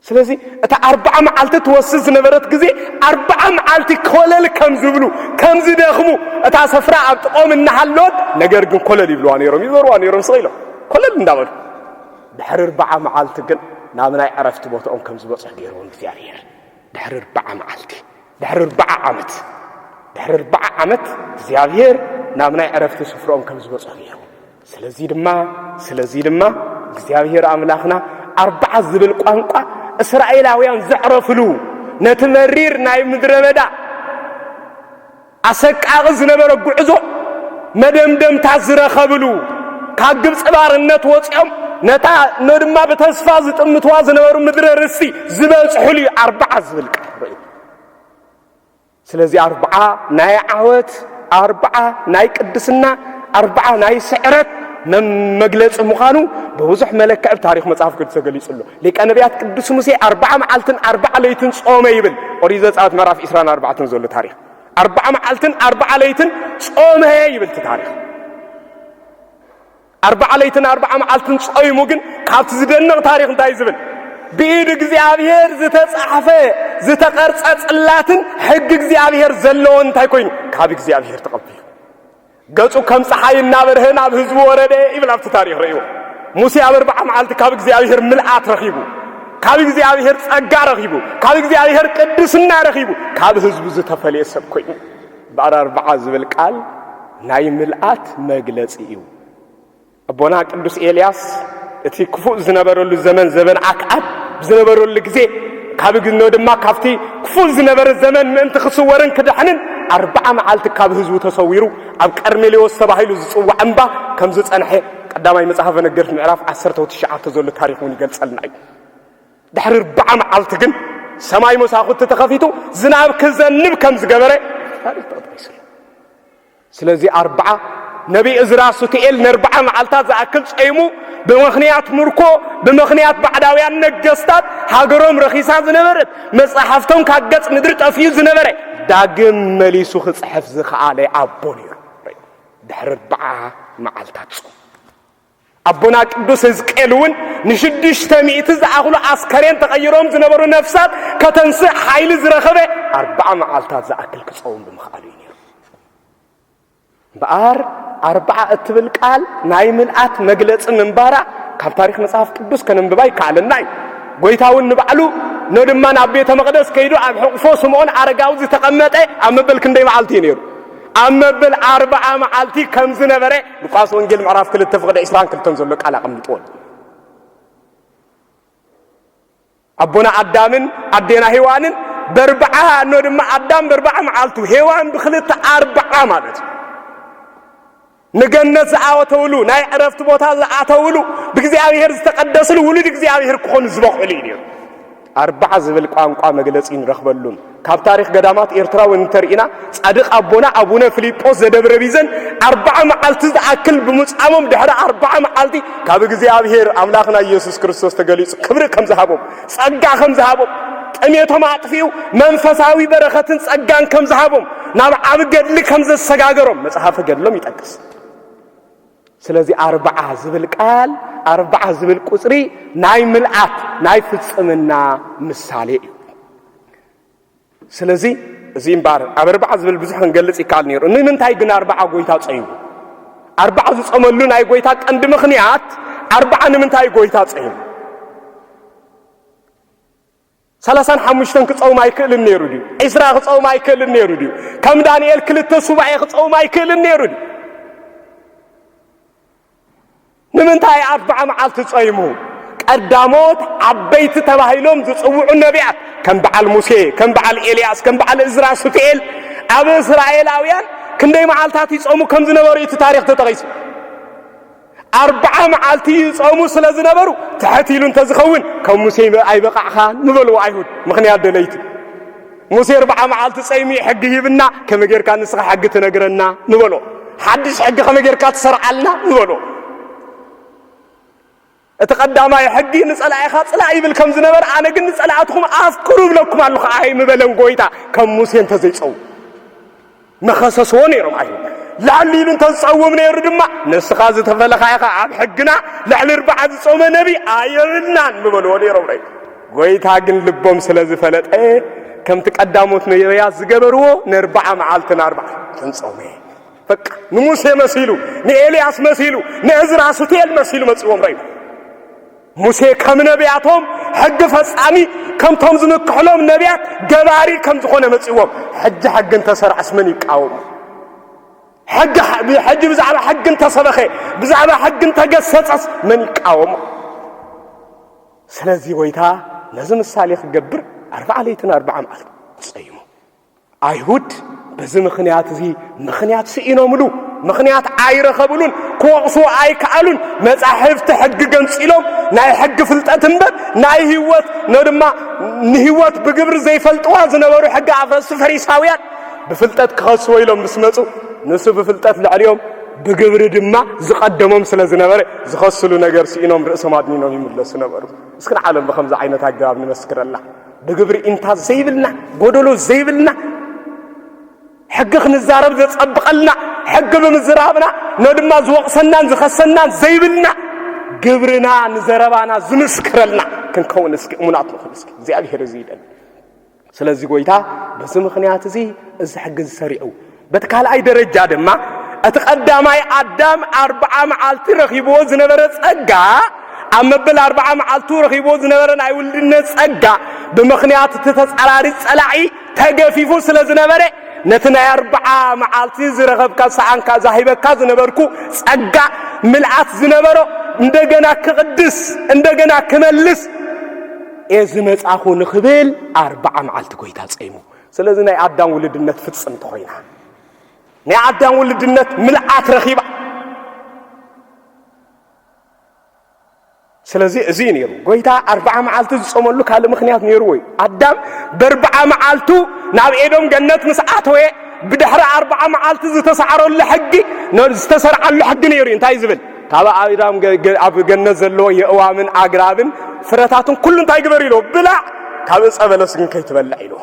ስለዚ እታ ኣርብዓ መዓልቲ ትወስድ ዝነበረት ግዜ ኣርብዓ መዓልቲ ኮለል ከም ዝብሉ ከም ዝደኽሙ እታ ሰፍራ ኣብ ጥቆም እናሃለወት ነገር ግን ኮለል ይብልዋ ነይሮም ይዞርዋ ነይሮም ስቕ ኢሎም ኮለል እንዳበሉ ድሕሪ ኣርብዓ መዓልቲ ግን ናብ ናይ ዕረፍቲ ቦትኦም ከም ዝበፅሑ ገይርዎም እግዚኣብሔር ድሕሪ ኣርብዓ መዓልቲ ድሕሪ ኣርብዓ ዓመት ድሕሪ ኣርብዓ ዓመት እግዚኣብሔር ናብ ናይ ዕረፍቲ ስፍርኦም ከም ዝበፅሑ ገይርዎም ስለዚ ድማ ስለዚ ድማ እግዚኣብሔር ኣምላኽና ኣርብዓ ዝብል ቋንቋ እስራኤላውያን ዘዕረፍሉ ነቲ መሪር ናይ ምድረ በዳ ኣሰቃቒ ዝነበረ ጉዕዞ መደምደምታ ዝረኸብሉ ካብ ግብፂ ባርነት ወፂኦም ነታ ነድማ ብተስፋ ዝጥምትዋ ዝነበሩ ምድረ ርስቲ ዝበፅሑሉ እዩ ኣርባዓ ዝብል ቃል ርእዩ ስለዚ ኣርብዓ ናይ ዓወት፣ ኣርብዓ ናይ ቅድስና፣ ኣርብዓ ናይ ስዕረት መግለፂ ምዃኑ ብብዙሕ መለክዕ ብ ታሪኽ መፅሓፍ ቅዱስ ተገሊፁ ኣሎ። ሊቀ ነቢያት ቅዱስ ሙሴ ኣርብዓ መዓልትን ኣርብዓ ለይትን ጾመ ይብል። ኦሪት ዘጸአት ምዕራፍ ዒስራን ኣርባዕተን ዘሎ ታሪኽ ኣርብዓ መዓልትን ኣርብዓ ለይትን ጾመ ይብል እቲ ታሪኽ። ኣርብዓ ለይትን ኣርብዓ መዓልትን ጾይሙ ግን ካብቲ ዝደንቕ ታሪኽ እንታይ ዝብል ብኢድ እግዚኣብሔር ዝተጻሕፈ ዝተቐርጸ ጽላትን ሕጊ እግዚኣብሔር ዘለዎን እንታይ ኮይኑ ካብ እግዚኣብሔር ተቐቢሉ ገጹ ከም ፀሓይ እናበርሀ ናብ ህዝቡ ወረደ ይብል ኣብቲ ታሪኽ ርእዎ ሙሴ ኣብ ኣርብዓ መዓልቲ ካብ እግዚኣብሔር ምልኣት ረኺቡ ካብ እግዚኣብሔር ጸጋ ረኺቡ ካብ እግዚኣብሔር ቅድስና ረኺቡ ካብ ህዝቡ ዝተፈልየ ሰብ ኮይኑ ብዕር ኣርብዓ ዝብል ቃል ናይ ምልኣት መግለጺ እዩ። ኣቦና ቅዱስ ኤልያስ እቲ ክፉእ ዝነበረሉ ዘመን ዘበን ኣክዓብ ብዝነበረሉ ግዜ ካብ ግኖ ድማ ካብቲ ክፉእ ዝነበረ ዘመን ምእንቲ ክስወርን ክድሕንን ኣርብዓ መዓልቲ ካብ ህዝቡ ተሰዊሩ ኣብ ቀርሜሌዎስ ተባሂሉ ዝጽዋዕ እምባ ከም ዝጸንሐ ቀዳማይ መጽሓፈ ነገርት ምዕራፍ ዓሰርተ ትሽዓተ ዘሎ ታሪኽ እውን ይገልጸልና እዩ። ድሕሪ ኣርብዓ መዓልቲ ግን ሰማይ መሳኹቲ ተኸፊቱ ዝናብ ክዘንብ ከም ዝገበረ ታሪኽ ተጠቂሱ ኣሎ ስለዚ ኣርብዓ ነቢይ እዝራ ሱትኤል ነርብዓ መዓልታት ዝኣክል ጸይሙ ብምኽንያት ምርኮ ብምኽንያት ባዕዳውያን ነገስታት ሃገሮም ረኺሳ ዝነበረት መጻሕፍቶም ካብ ገጽ ምድሪ ጠፍዩ ዝነበረ ዳግም መሊሱ ክጽሕፍ ዝኸኣለ ኣቦ ነይሩ ድሕሪ ኣርብዓ መዓልታት ጾም ኣቦና ቅዱስ ህዝቅኤል እውን ንሽዱሽተ ሚእቲ ዝኣኽሉ ኣስከሬን ተቐይሮም ዝነበሩ ነፍሳት ከተንስእ ሓይሊ ዝረኸበ ኣርባዓ መዓልታት ዝኣክል ክፀውም ብምኽኣሉ እዩ ነይሩ እምበኣር ኣርባዓ እትብል ቃል ናይ ምልኣት መግለፂ ምንባራ ካብ ታሪክ መጽሓፍ ቅዱስ ከነንብባ ይከኣለና እዩ ጎይታ እውን ንባዕሉ ኖ ድማ ናብ ቤተ መቕደስ ከይዱ ኣብ ሕቕፎ ስምዖን ኣረጋዊ ዝተቐመጠ ኣብ መበል ክንደይ መዓልቲ እዩ ነይሩ ኣብ መብል ኣርብዓ መዓልቲ ከም ዝነበረ ሉቃስ ወንጌል ምዕራፍ ክልተ ፍቕደ ዕስራን ክልተን ዘሎ ቃል ኣቐሚጥዎ ኣሎ። ኣቦና ኣዳምን ኣዴና ሄዋንን በርብዓ እኖ ድማ ኣዳም በርብዓ መዓልቱ ሄዋን ብክልተ ኣርብዓ ማለት እዩ ንገነት ዝኣወተውሉ ናይ ዕረፍቲ ቦታ ዝኣተውሉ ብእግዚኣብሔር ዝተቐደስሉ ውሉድ እግዚኣብሔር ክኾኑ ዝበቕዕሉ እዩ ነይሩ። ኣርባዓ ዝብል ቋንቋ መግለጺ ንረኽበሉን ካብ ታሪኽ ገዳማት ኤርትራ እውን እንተርኢና ጻድቕ ኣቦና ኣቡነ ፊልጶስ ዘደብረ ቢዘን ኣርባዓ መዓልቲ ዝኣክል ብምጻሞም ድሕሪ ኣርባዓ መዓልቲ ካብ እግዚኣብሔር ኣምላኽና ኢየሱስ ክርስቶስ ተገሊጹ ክብሪ ከም ዝሃቦም ጸጋ ከም ዝሃቦም፣ ጥሜቶም ኣጥፊኡ መንፈሳዊ በረኸትን ጸጋን ከም ዝሃቦም፣ ናብ ዓብ ገድሊ ከም ዘሰጋገሮም መጽሓፈ ገድሎም ይጠቅስ። ስለዚ ኣርብዓ ዝብል ቃል ኣርብዓ ዝብል ቁጽሪ ናይ ምልኣት ናይ ፍጽምና ምሳሌ እዩ። ስለዚ እዚ እምበኣር ኣብ ኣርባዓ ዝብል ብዙሕ ክንገልጽ ይከኣል ነይሩ። ንምንታይ ግን ኣርባዓ ጎይታ ጸዩ? ኣርባዓ ዝጸመሉ ናይ ጎይታ ቀንዲ ምኽንያት ኣርባዓ ንምንታይ ጎይታ ጸዩ? ሰላሳን ሓሙሽተን ክጸውም ኣይክእልን ነይሩ ድዩ? ዒስራ ክጸውም ኣይክእልን ነይሩ ድዩ? ከም ዳንኤል ክልተ ሱባኤ ክጸውም ኣይክእልን ነይሩ ድዩ? ንምንታይ ኣርብዓ መዓልቲ ጾይሙ? ቀዳሞት ዓበይቲ ተባሂሎም ዝጽውዑ ነብያት ከም በዓል ሙሴ፣ ከም በዓል ኤልያስ፣ ከም በዓል እዝራ ሱትኤል ኣብ እስራኤላውያን ክንደይ መዓልታት ይጾሙ ከም ዝነበሩ እቲ ታሪኽ ተጠቒሱ። ኣርብዓ መዓልቲ ይጾሙ ስለ ዝነበሩ ትሕት ኢሉ እንተዝኸውን ከም ሙሴ ኣይበቓዕኻን ምበልዎ ኣይሁድ ምኽንያት ደለይቲ ሙሴ ኣርብዓ መዓልቲ ጸይሙ ሕጊ ሂብና ከመይ ጌርካ ንስኻ ሕጊ ትነግረና ንበሎ ሓድሽ ሕጊ ከመይ ጌርካ ትሰርዓልና ንበሎ እቲ ቀዳማይ ሕጊ ንጸላኢኻ ጽላእ ይብል ከም ዝነበረ ኣነ ግን ንጸላእትኹም ኣፍቅሩ ይብለኩም ኣለኹ ኣይ ምበለን ጎይታ ከም ሙሴ እንተዘይጸው ምኸሰስዎ ነይሮም ኣይሁድ ላዕሊ ኢሉ እንተዝፀውም ነይሩ ድማ ንስኻ ዝተፈለኻ ኢኻ ኣብ ሕግና ልዕሊ እርባዓ ዝፆመ ነቢ ኣየብልናን ምበልዎ ነይሮም ናይ ጎይታ ግን ልቦም ስለ ዝፈለጠ ከምቲ ቀዳሞት ነቢያት ዝገበርዎ ንርባዓ መዓልቲ ንኣርባዓ ተንፀውመ በቃ ንሙሴ መሲሉ ንኤልያስ መሲሉ ንእዝራ ሱቴል መሲሉ መፅዎም ረዩ ሙሴ ከም ነቢያቶም ሕጊ ፈጻሚ ከምቶም ዝምክሕሎም ነቢያት ገባሪ ከም ዝኾነ መጽዎም ሕጂ ሕጊ እንተሰርዐስ መን ይቃወሙ? ሕጊ ሕጂ ብዛዕባ ሕጊ እንተሰበኸ ብዛዕባ ሕጊ እንተገሰጸስ መን ይቃወሙ? ስለዚ ጎይታ ነዚ ምሳሌ ክገብር ኣርብዓ ለይትን ኣርብዓ መዓልትን ጸይሙ ኣይሁድ በዚ ምኽንያት እዚ ምኽንያት ስኢኖምሉ ምኽንያት ኣይረኸብሉን ክወቕሱ ኣይከኣሉን መጻሕፍቲ ሕጊ ገንጺሎም ናይ ሕጊ ፍልጠት እምበር ናይ ህይወት ነ ድማ ንህይወት ብግብሪ ዘይፈልጥዋ ዝነበሩ ሕጊ ኣፍረስቲ ፈሪሳውያን ብፍልጠት ክኸስዎ ኢሎም ምስ መፁ ንሱ ብፍልጠት ልዕሊኦም ብግብሪ ድማ ዝቐደሞም ስለ ዝነበረ ዝኸስሉ ነገር ስኢኖም ርእሶም ኣድኒኖም ይምለሱ ነበሩ እስክን ዓለም ብከምዚ ዓይነት ኣገባብ ንመስክረላ ብግብሪ ኢንታ ዘይብልና ጎደሎ ዘይብልና ሕጊ ክንዛረብ ዘጸብቐልና ሕጊ ብምዝራብና ነድማ ዝወቕሰናን ዝኸሰናን ዘይብልና ግብርና ንዘረባና ዝምስክረልና ክንከውን እስኪ እሙናት ንኹን እስኪ እግዚኣብሄር እዚ ይደሊ ስለዚ ጎይታ በዚ ምኽንያት እዚ እዚ ሕጊ ዝሰሪዑ በቲ ካልኣይ ደረጃ ድማ እቲ ቀዳማይ ኣዳም ኣርብዓ መዓልቲ ረኺብዎ ዝነበረ ጸጋ ኣብ መበል ኣርብዓ መዓልቱ ረኺብዎ ዝነበረ ናይ ውልድነት ጸጋ ብምኽንያት እቲ ተጻራሪ ጸላኢ ተገፊፉ ስለ ዝነበረ ነቲ ናይ ኣርብዓ መዓልቲ ዝረኸብካ ሰኣንካ ዛሂበካ ዝነበርኩ ጸጋ ምልኣት ዝነበሮ እንደገና ክቕድስ እንደገና ክመልስ እየ ዝመጻኹ ንኽብል ኣርብዓ መዓልቲ ጎይታ ጸይሙ ስለዚ ናይ ኣዳም ውልድነት ፍጽምቲ ኮይና ናይ ኣዳም ውልድነት ምልኣት ረኺባ ስለዚ እዚ እዩ ነይሩ ጎይታ ኣርብዓ መዓልቲ ዝጾመሉ ካልእ ምክንያት ነይርዎ እዩ ኣዳም በርብዓ መዓልቱ ናብ ኤዶም ገነት ምስ ኣተወ ብድሕሪ ኣርብዓ መዓልቲ ዝተሳዕረሉ ሕጊ ዝተሰርዓሉ ሕጊ ነይሩ እዩ እንታይ ዝብል ካብ ኣእዳም ኣብ ገነት ዘለዎ የእዋምን ኣግራብን ፍረታትን ኩሉ እንታይ ግበር ኢልዎ ብላዕ ካብ እፀ በለስ ግን ከይትበልዕ ኢልዎ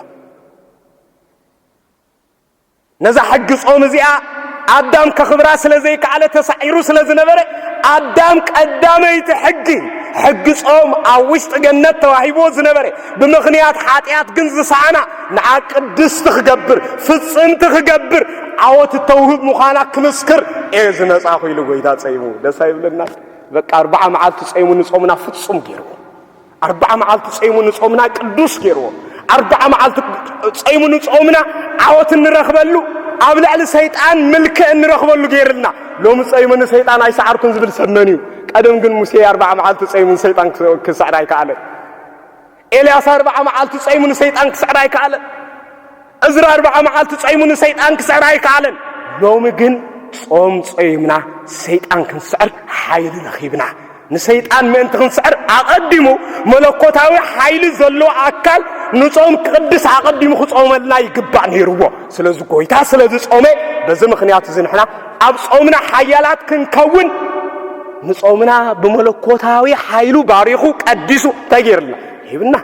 ነዛ ሕጊ ጾም እዚኣ ኣዳም ከኽብራ ስለ ዘይከኣለ ተሳዒሩ ስለ ዝነበረ ኣዳም ቀዳመይቲ ሕጊ ሕጊ ጾም ኣብ ውሽጢ ገነት ተዋሂብዎ ዝነበረ ብምኽንያት ሓጢኣት ግን ዝሰኣና ንዓ ቅድስቲ ክገብር ፍጽምቲ ክገብር ዓወት እተውህብ ምዃና ክምስክር እየ ዝመጻኹ ኢሉ ጎይታ ጸይሙ ደስ ኣይብለና በቃ ኣርባዓ መዓልቲ ጸይሙ ንጾምና ፍጹም ገይርዎ ኣርባዓ መዓልቲ ጸይሙ ንጾምና ቅዱስ ገይርዎ ኣርባዓ መዓልቲ ጸይሙ ንጾምና ዓወት እንረኽበሉ ኣብ ልዕሊ ሰይጣን ምልክዕ እንረኽበሉ ገይርልና ሎሚ ጸይሙ ንሰይጣን ኣይሰዓርኩን ዝብል ሰብ መን እዩ ቀደም ግን ሙሴ ኣርባዓ መዓልቲ ጸይሙን ሰይጣን ክስዕር ኣይከኣለን ኤልያስ ኣርብዓ መዓልቲ ጸይሙ ንሰይጣን ክስዕር ኣይከኣለን። እዝራ ኣርብዓ መዓልቲ ጸይሙ ንሰይጣን ክስዕር ኣይከኣለን። ሎሚ ግን ጾም ጾይምና ሰይጣን ክንስዕር ሓይሊ ረኺብና። ንሰይጣን ምእንቲ ክንስዕር ኣቐዲሙ መለኮታዊ ሓይሊ ዘለዎ ኣካል ንጾም ክቕድስ ኣቐዲሙ ክጾመልና ይግባእ ነይርዎ። ስለዚ ጎይታ ስለዚ ጾመ በዚ ምኽንያት እዚ ንሕና ኣብ ጾምና ሓያላት ክንከውን ንጾምና ብመለኮታዊ ሓይሉ ባሪኹ ቀዲሱ እንታይ ገይርልና ሂብና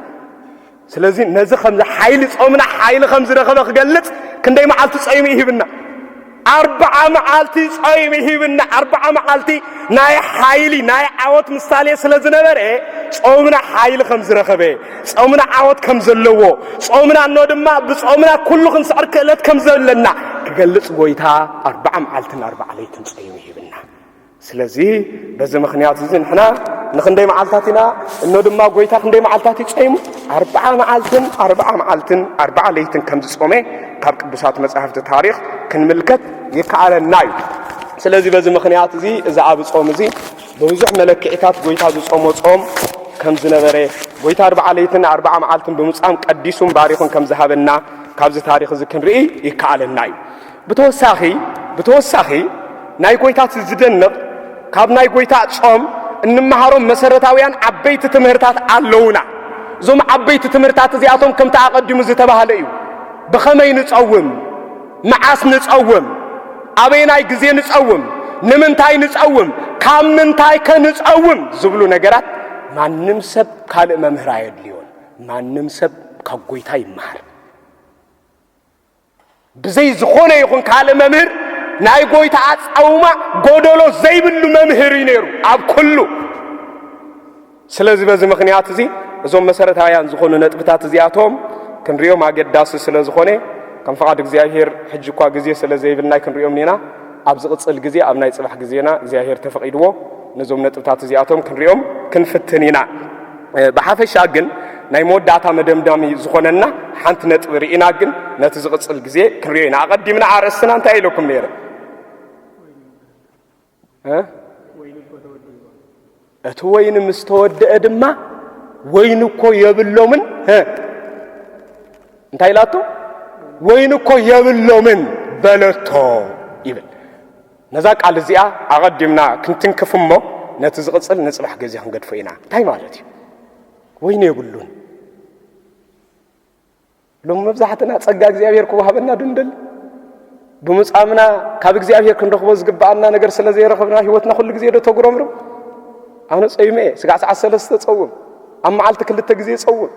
ስለዚ ነዚ ከምዚ ሓይሊ ጾምና ሓይሊ ከም ዝረኸበ ክገልጽ ክንደይ መዓልቲ ጾይሙ ይሂብና ኣርብዓ መዓልቲ ጾይሙ ይሂብና ኣርብዓ መዓልቲ ናይ ሓይሊ ናይ ዓወት ምሳሌ ስለ ዝነበረ ጾምና ሓይሊ ከም ዝረኸበ ጾምና ዓወት ከም ዘለዎ፣ ጾምና እኖ ድማ ብጾምና ኩሉ ክንስዕር ክእለት ከም ዘለና ክገልጽ ጎይታ ኣርብዓ መዓልትን ኣርብዓ ለይትን ጸይሙ ሂብና። ስለዚ በዚ ምክንያት እዚ ንሕና ንክንደይ መዓልታት ኢና እኖ ድማ ጎይታ ክንደይ መዓልታት እዩ ጸይሙ? ኣርብዓ መዓልትን ኣርብዓ መዓልትን ኣርብዓ ለይትን ከም ዝጾመ ካብ ቅዱሳት መጻሕፍቲ ታሪኽ ክንምልከት ይከኣለና እዩ። ስለዚ በዚ ምክንያት እዚ እዚ ኣብ ጾም እዚ ብብዙሕ መለክዒታት ጐይታ ዝጾሞ ጾም ከም ዝነበረ፣ ጐይታ ኣርብዓ ለይትን ኣርብዓ መዓልትን ብምጻም ቀዲሱን ባሪኹን ከም ዝሃበና ካብዚ ታሪኽ እዚ ክንርኢ ይከኣለና እዩ። ብተወሳኺ ብተወሳኺ ናይ ጐይታ እቲ ዝደንቕ ካብ ናይ ጐይታ ጾም እንመሃሮም መሰረታውያን ዓበይቲ ትምህርታት ኣለዉና። እዞም ዓበይቲ ትምህርታት እዚኣቶም ከምቲ ኣቐዲሙ ዝተባህለ እዩ። ብኸመይ ንጸውም? መዓስ ንጸውም? ኣበየናይ ግዜ ንጸውም? ንምንታይ ንጸውም? ካብ ምንታይከ ንጸውም? ዝብሉ ነገራት ማንም ሰብ ካልእ መምህር ኣየድልዮን። ማንም ሰብ ካብ ጐይታ ይመሃር። ብዘይ ዝኾነ ይኹን ካልእ መምህር ናይ ጐይታ ኣጻውማ ጐደሎ ዘይብሉ መምህር እዩ ነይሩ ኣብ ኩሉ ስለዚ በዚ ምኽንያት እዚ እዞም መሰረታውያን ዝኾኑ ነጥብታት እዚኣቶም ክንሪኦም ኣገዳሲ ስለ ዝኾነ ከም ፍቓድ እግዚኣብሄር ሕጂ እኳ ግዜ ስለ ዘይብልና ክንሪኦም ኒና ኣብ ዝቕጽል ግዜ ኣብ ናይ ጽባሕ ግዜና እግዚኣብሄር ተፈቒድዎ ነዞም ነጥብታት እዚኣቶም ክንሪኦም ክንፍትን ኢና ብሓፈሻ ግን ናይ መወዳእታ መደምዳሚ ዝኾነና ሓንቲ ነጥቢ ርኢና ግን ነቲ ዝቕጽል ግዜ ክንሪኦ ኢና ኣቐዲምና ኣርእስትና እንታይ ኢለኩም ነይረ እቲ ወይኒ ምስ ተወድአ ድማ ወይኒ እኮ የብሎምን እንታይ ኢላቶ ወይኒ እኮ የብሎምን በለቶ ይብል ነዛ ቃል እዚኣ ኣቐዲምና ክንትንክፍ እሞ ነቲ ዝቕፅል ንፅባሕ ግዜ ክንገድፎ ኢና እንታይ ማለት እዩ ወይኒ የብሉን ሎሚ መብዛሕትና ጸጋ እግዚኣብሔር ክወሃበና ድንድል ብምጻምና ካብ እግዚኣብሔር ክንረኽቦ ዝግብኣና ነገር ስለ ዘይረኽብና ህይወትና ኩሉ ግዜ ዶ ተጉረምርም ኣነ ጸይመ እየ ስጋዕ ሰዓት ሰለስተ ጸውም ኣብ መዓልቲ ክልተ ግዜ ጸውም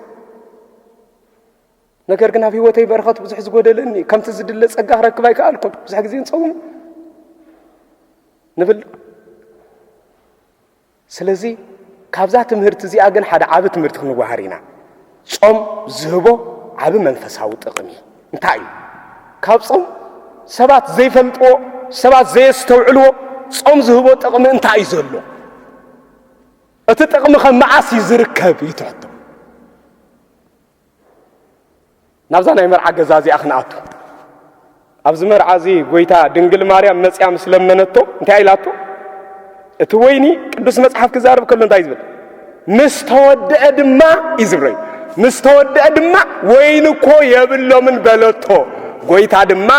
ነገር ግን ኣብ ህይወተይ በረኸት ብዙሕ ዝጎደለኒ ከምቲ ዝድለ ጸጋ ክረክብ ኣይከኣልኩን ብዙሕ ግዜ ንጸውም ንብል ስለዚ ካብዛ ትምህርቲ እዚኣ ግን ሓደ ዓቢ ትምህርቲ ክንወሃር ኢና። ጾም ዝህቦ ዓቢ መንፈሳዊ ጥቕሚ እንታይ እዩ? ካብ ጾም ሰባት ዘይፈልጥዎ ሰባት ዘየስተውዕልዎ ጾም ዝህቦ ጥቕሚ እንታይ እዩ ዘሎ? እቲ ጥቕሚ ከ መዓስ እዩ ዝርከብ እዩ ትሕቶ። ናብዛ ናይ መርዓ ገዛ እዚኣ ክንኣቱ ኣብዚ መርዓ እዚ ጎይታ ድንግል ማርያም መፅያ ምስ ለመነቶ እንታይ ኢላቶ እቲ ወይኒ ቅዱስ መጽሓፍ ክዛርብ ከሎ እንታይ ዝብል ምስ ተወድአ ድማ እዩ ዝብለዩ ምስ ተወድአ ድማ ወይኒ እኮ የብሎምን በለቶ ጎይታ ድማ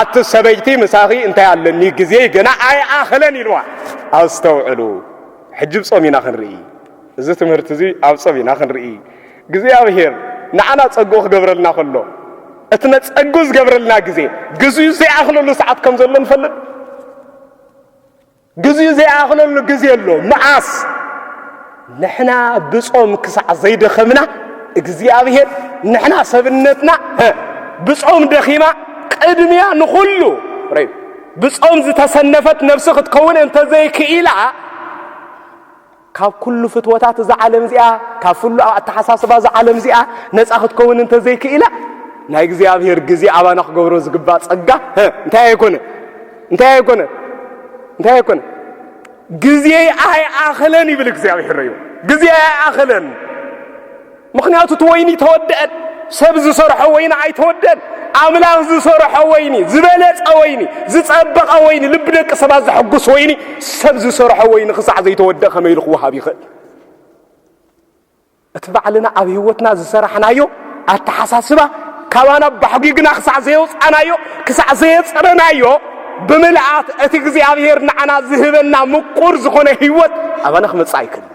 ኣቲ ሰበይቲ ምሳኺ እንታይ ኣለኒ ግዜ ገና ኣይኣኸለን ኢልዋ ኣስተውዕሉ ሕጂ ብ ጾም ኢና ክንርኢ እዚ ትምህርቲ እዚ ኣብ ጾም ኢና ክንርኢ እግዚኣብሔር ንዓና ጸግኡ ክገብረልና ከሎ እቲ ነጸግኡ ዝገብረልና ግዜ ግዜኡ ዘይኣኽለሉ ሰዓት ከም ዘሎ ንፈልጥ ግዜኡ ዘይኣኽለሉ ግዜ ኣሎ መዓስ ንሕና ብጾም ክሳዕ ዘይደኸምና እግዚኣብሔር ንሕና ሰብነትና ብጾም ደኺማ ቅድሚያ ንኹሉ ብጾም ዝተሰነፈት ነፍሲ ክትከውን እንተዘይክኢላ ካብ ኩሉ ፍትወታት እዛ ዓለም እዚኣ፣ ካብ ፍሉ ኣብ ኣተሓሳስባ እዛ ዓለም እዚኣ ነጻ ክትከውን እንተ ዘይክኢላ፣ ናይ እግዚኣብሔር ግዜ ኣባና ክገብሮ ዝግባእ ጸጋ እንታይ ኣይኮነ እንታይ ኣይኮነ እንታይ ኣይኮነ ግዜ ኣይኣኸለን ይብል እግዚኣብሔር እዩ ግዜ ኣይኣኸለን ምኽንያቱ እቲ ወይኒ ተወደአን ሰብ ዝሰርሖ ወይኒ ኣይተወደን ኣምላኽ ዝሰርሖ ወይኒ ዝበለጸ ወይኒ ዝጸበቐ ወይኒ ልቢ ደቂ ሰባት ዘሐጉስ ወይኒ ሰብ ዝሰርሖ ወይኒ ክሳዕ ዘይተወደእ ከመይ ኢሉ ክወሃብ ይኽእል እቲ ባዕልና ኣብ ህይወትና ዝሰራሕናዮ ኣተሓሳስባ ካባና ባሕጒግና ክሳዕ ዘየውፃናዮ ክሳዕ ዘየፅረናዮ ብምልኣት እቲ እግዚኣብሔር ንዓና ዝህበና ምቁር ዝኾነ ህይወት ኣባና ክመፅእ ኣይክእል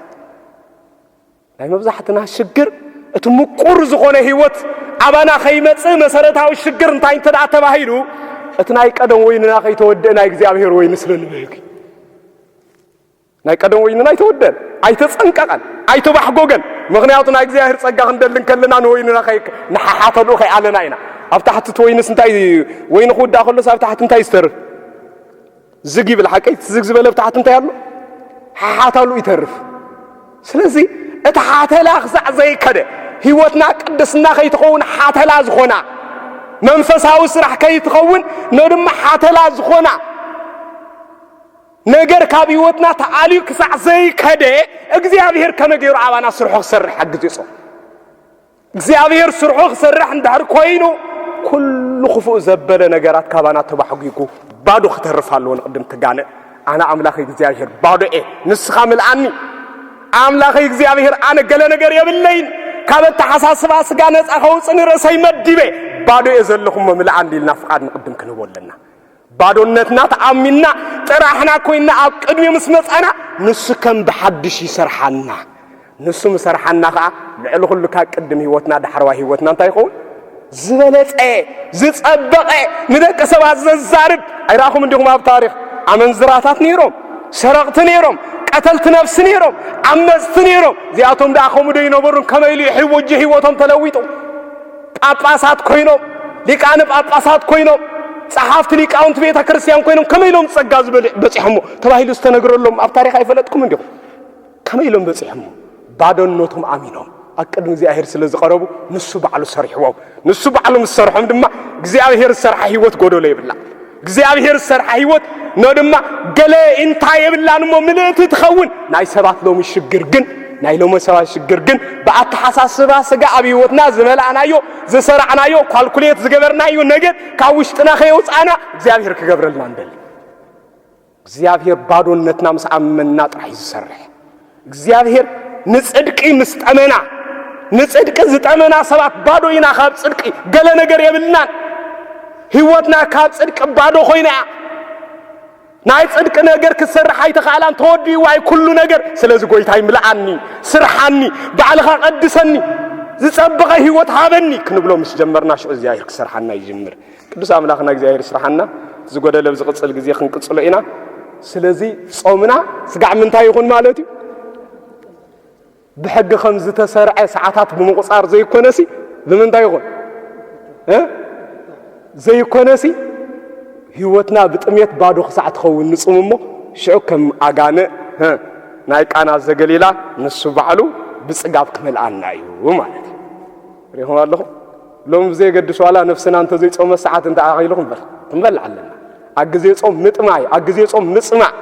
ናይ መብዛሕትና ሽግር እቲ ምቁር ዝኾነ ህይወት ኣባና ከይመጽእ መሰረታዊ ሽግር እንታይ እንተ ደኣ ተባሂሉ እቲ ናይ ቀደም ወይንና ከይተወድእ ናይ እግዚኣብሔር ወይኒ ስለ ንብህግ ናይ ቀደም ወይንና ኣይተወደን ኣይተጸንቀቐን ኣይተባሕጎገን ምክንያቱ ናይ እግዚኣብሔር ጸጋ ክንደሊ ከለና ንወይንና ንሓሓተሉ ከይኣለና ኢና ኣብ ታሕቲ እቲ ወይንስ እንታይ ወይኒ ክውዳእ ከሎስ ኣብ ታሕቲ እንታይ ዝተርፍ ዝግ ይብል ሓቀይ ትዝግ ዝበለ ብታሕቲ እንታይ ኣሎ ሓሓታሉ ይተርፍ ስለዚ እቲ ሓተላ ክሳዕ ዘይከደ ህይወትና ቅድስና ከይትኸውን ሓተላ ዝኾና መንፈሳዊ ስራሕ ከይትኸውን ነድማ ሓተላ ዝኾና ነገር ካብ ህይወትና ተኣልዩ ክሳዕ ዘይከደ እግዚኣብሔር ከመ ገይሩ ኣባና ስርሖ ክሰርሕ ሓግዝ ይጾም እግዚኣብሔር ስርሑ ክሰርሕ እንድሕር ኮይኑ ኩሉ ክፉእ ዘበለ ነገራት ካባና ተባሕጒጉ ባዶ ክተርፍ ኣለዎ ንቅድም ትጋነ ኣነ ኣምላኽ እግዚኣብሔር ባዶ እየ ንስኻ ምልኣኒ ኣምላኽ እግዚኣብሔር ኣነ ገለ ነገር የብለይን ካብ ኣተሓሳስባ ስጋ ነፃ ከውፅእ ንርእሰይ መዲበ ባዶ እየ ዘለኹሞ ምልኣኒ ኢልና ፍቓድ ንቅድም ክንህቦ ኣለና ባዶነትና ተኣሚንና ጥራሕና ኮይንና ኣብ ቅድሚኡ ምስ መጻና ንሱ ከም ብሓድሽ ይሰርሓና። ንሱ ምስ ሰርሓና ከኣ ልዕሊ ኩሉ ካብ ቅድም ህይወትና ዳሕረዋይ ህይወትና እንታይ ይኸውን? ዝበለጸ ዝጸበቐ ንደቂ ሰባት ዘዛርብ ኣይረኣኹም እንዲኹም ኣብ ታሪኽ ኣመንዝራታት ነይሮም ሰረቕቲ ነይሮም ቀተልቲ ነፍሲ ነይሮም ዓመፅቲ ነይሮም እዚኣቶም ደኣ ከምኡ ዶ ይነበሩን ከመይ ኢሉ ሕወጅ ህይወቶም ተለዊጡ ጳጳሳት ኮይኖም፣ ሊቃነ ጳጳሳት ኮይኖም፣ ጸሓፍቲ ሊቃውንቲ ቤተ ክርስቲያን ኮይኖም ከመይ ኢሎም ጸጋ ዝበልዕ በጺሖሞ ተባሂሉ ዝተነግረሎም ኣብ ታሪኽ ኣይፈለጥኩምን ዲኹም? ከመይ ኢሎም በጺሖሞ? ባዶነቶም ኣሚኖም ኣብ ቅድሚ እግዚኣብሔር ስለ ዝቐረቡ ንሱ ባዕሉ ሰሪሕዎም። ንሱ ባዕሉ ምስ ሰርሖም ድማ እግዚኣብሔር ዝሰርሓ ህይወት ጎደሎ የብላ። እግዚኣብሔር ዝሰርሓ ህይወት ን ድማ ገለ ኢንታ የብላን እሞ ምልእቲ ትኸውን ናይ ሰባት ሎሚ ሽግር ግን ናይ ሎሚ ሰባት ሽግር ግን ብኣተሓሳስባ ስጋ ኣብ ህይወትና ዝመላእናዮ ዝሰራዕናዮ ኳልኩሌት ዝገበርናዮ ነገር ካብ ውሽጥና ከየውፃእና እግዚኣብሔር ክገብረልና ንደሊ እግዚኣብሔር ባዶነትና ምስ ኣመንና ጥራሕ እዩ ዝሰርሕ። እግዚኣብሔር ንፅድቂ ምስ ጠመና ንፅድቂ ዝጠመና ሰባት ባዶ ኢና ካብ ፅድቂ ገለ ነገር የብልናን። ህይወትና ካብ ፅድቂ ባዶ ኮይና እያ። ናይ ፅድቂ ነገር ክትሰርሕ ኣይተኽኣላን ተወዲእዋ እዩ ኩሉ ነገር። ስለዚ ጎይታ ይምልኣኒ፣ ስርሓኒ፣ ባዕልኻ ቀድሰኒ፣ ዝፀበቐ ህይወት ሃበኒ ክንብሎ ምስ ጀመርና ሽዑ እግዚኣብሔር ክሰርሓና ይጅምር። ቅዱስ ኣምላኽና እግዚኣብሔር ይስራሓና ዝጎደለ ኣብ ዝቕጽል ግዜ ክንቅጽሎ ኢና። ስለዚ ጾምና ስጋዕ ምንታይ ይኹን ማለት እዩ ብሕጊ ከም ዝተሰርዐ ሰዓታት ብምቑጻር ዘይኮነሲ ብምንታይ ይኹን ዘይኮነሲ ህይወትና ብጥሜት ባዶ ክሳዕ ትኸውን ንጹም እሞ ሽዑ ከም ኣጋነ ናይ ቃና ዘገሊላ ንሱ ባዕሉ ብጽጋብ ክመልኣና እዩ ማለት እዩ ሪኹም ኣለኹም ሎሚ ብዘየገድስ ዋላ ነፍስና እንተዘይጾመ ሰዓት እንተኣኺሉ ክንበር ክንበልዕ ኣለና። ኣብ ግዜ ጾም ምጥማይ፣ ኣብ ግዜ ጾም ምጽማዕ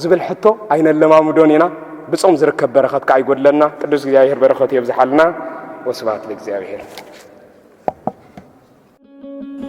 ዝብል ሕቶ ኣይነለማምዶን ኢና። ብጾም ዝርከብ በረኸት ከኣ ይጎድለና። ቅዱስ እግዚኣብሔር በረኸቱ የብዝሓልና። ወስብሐት ለእግዚኣብሔር።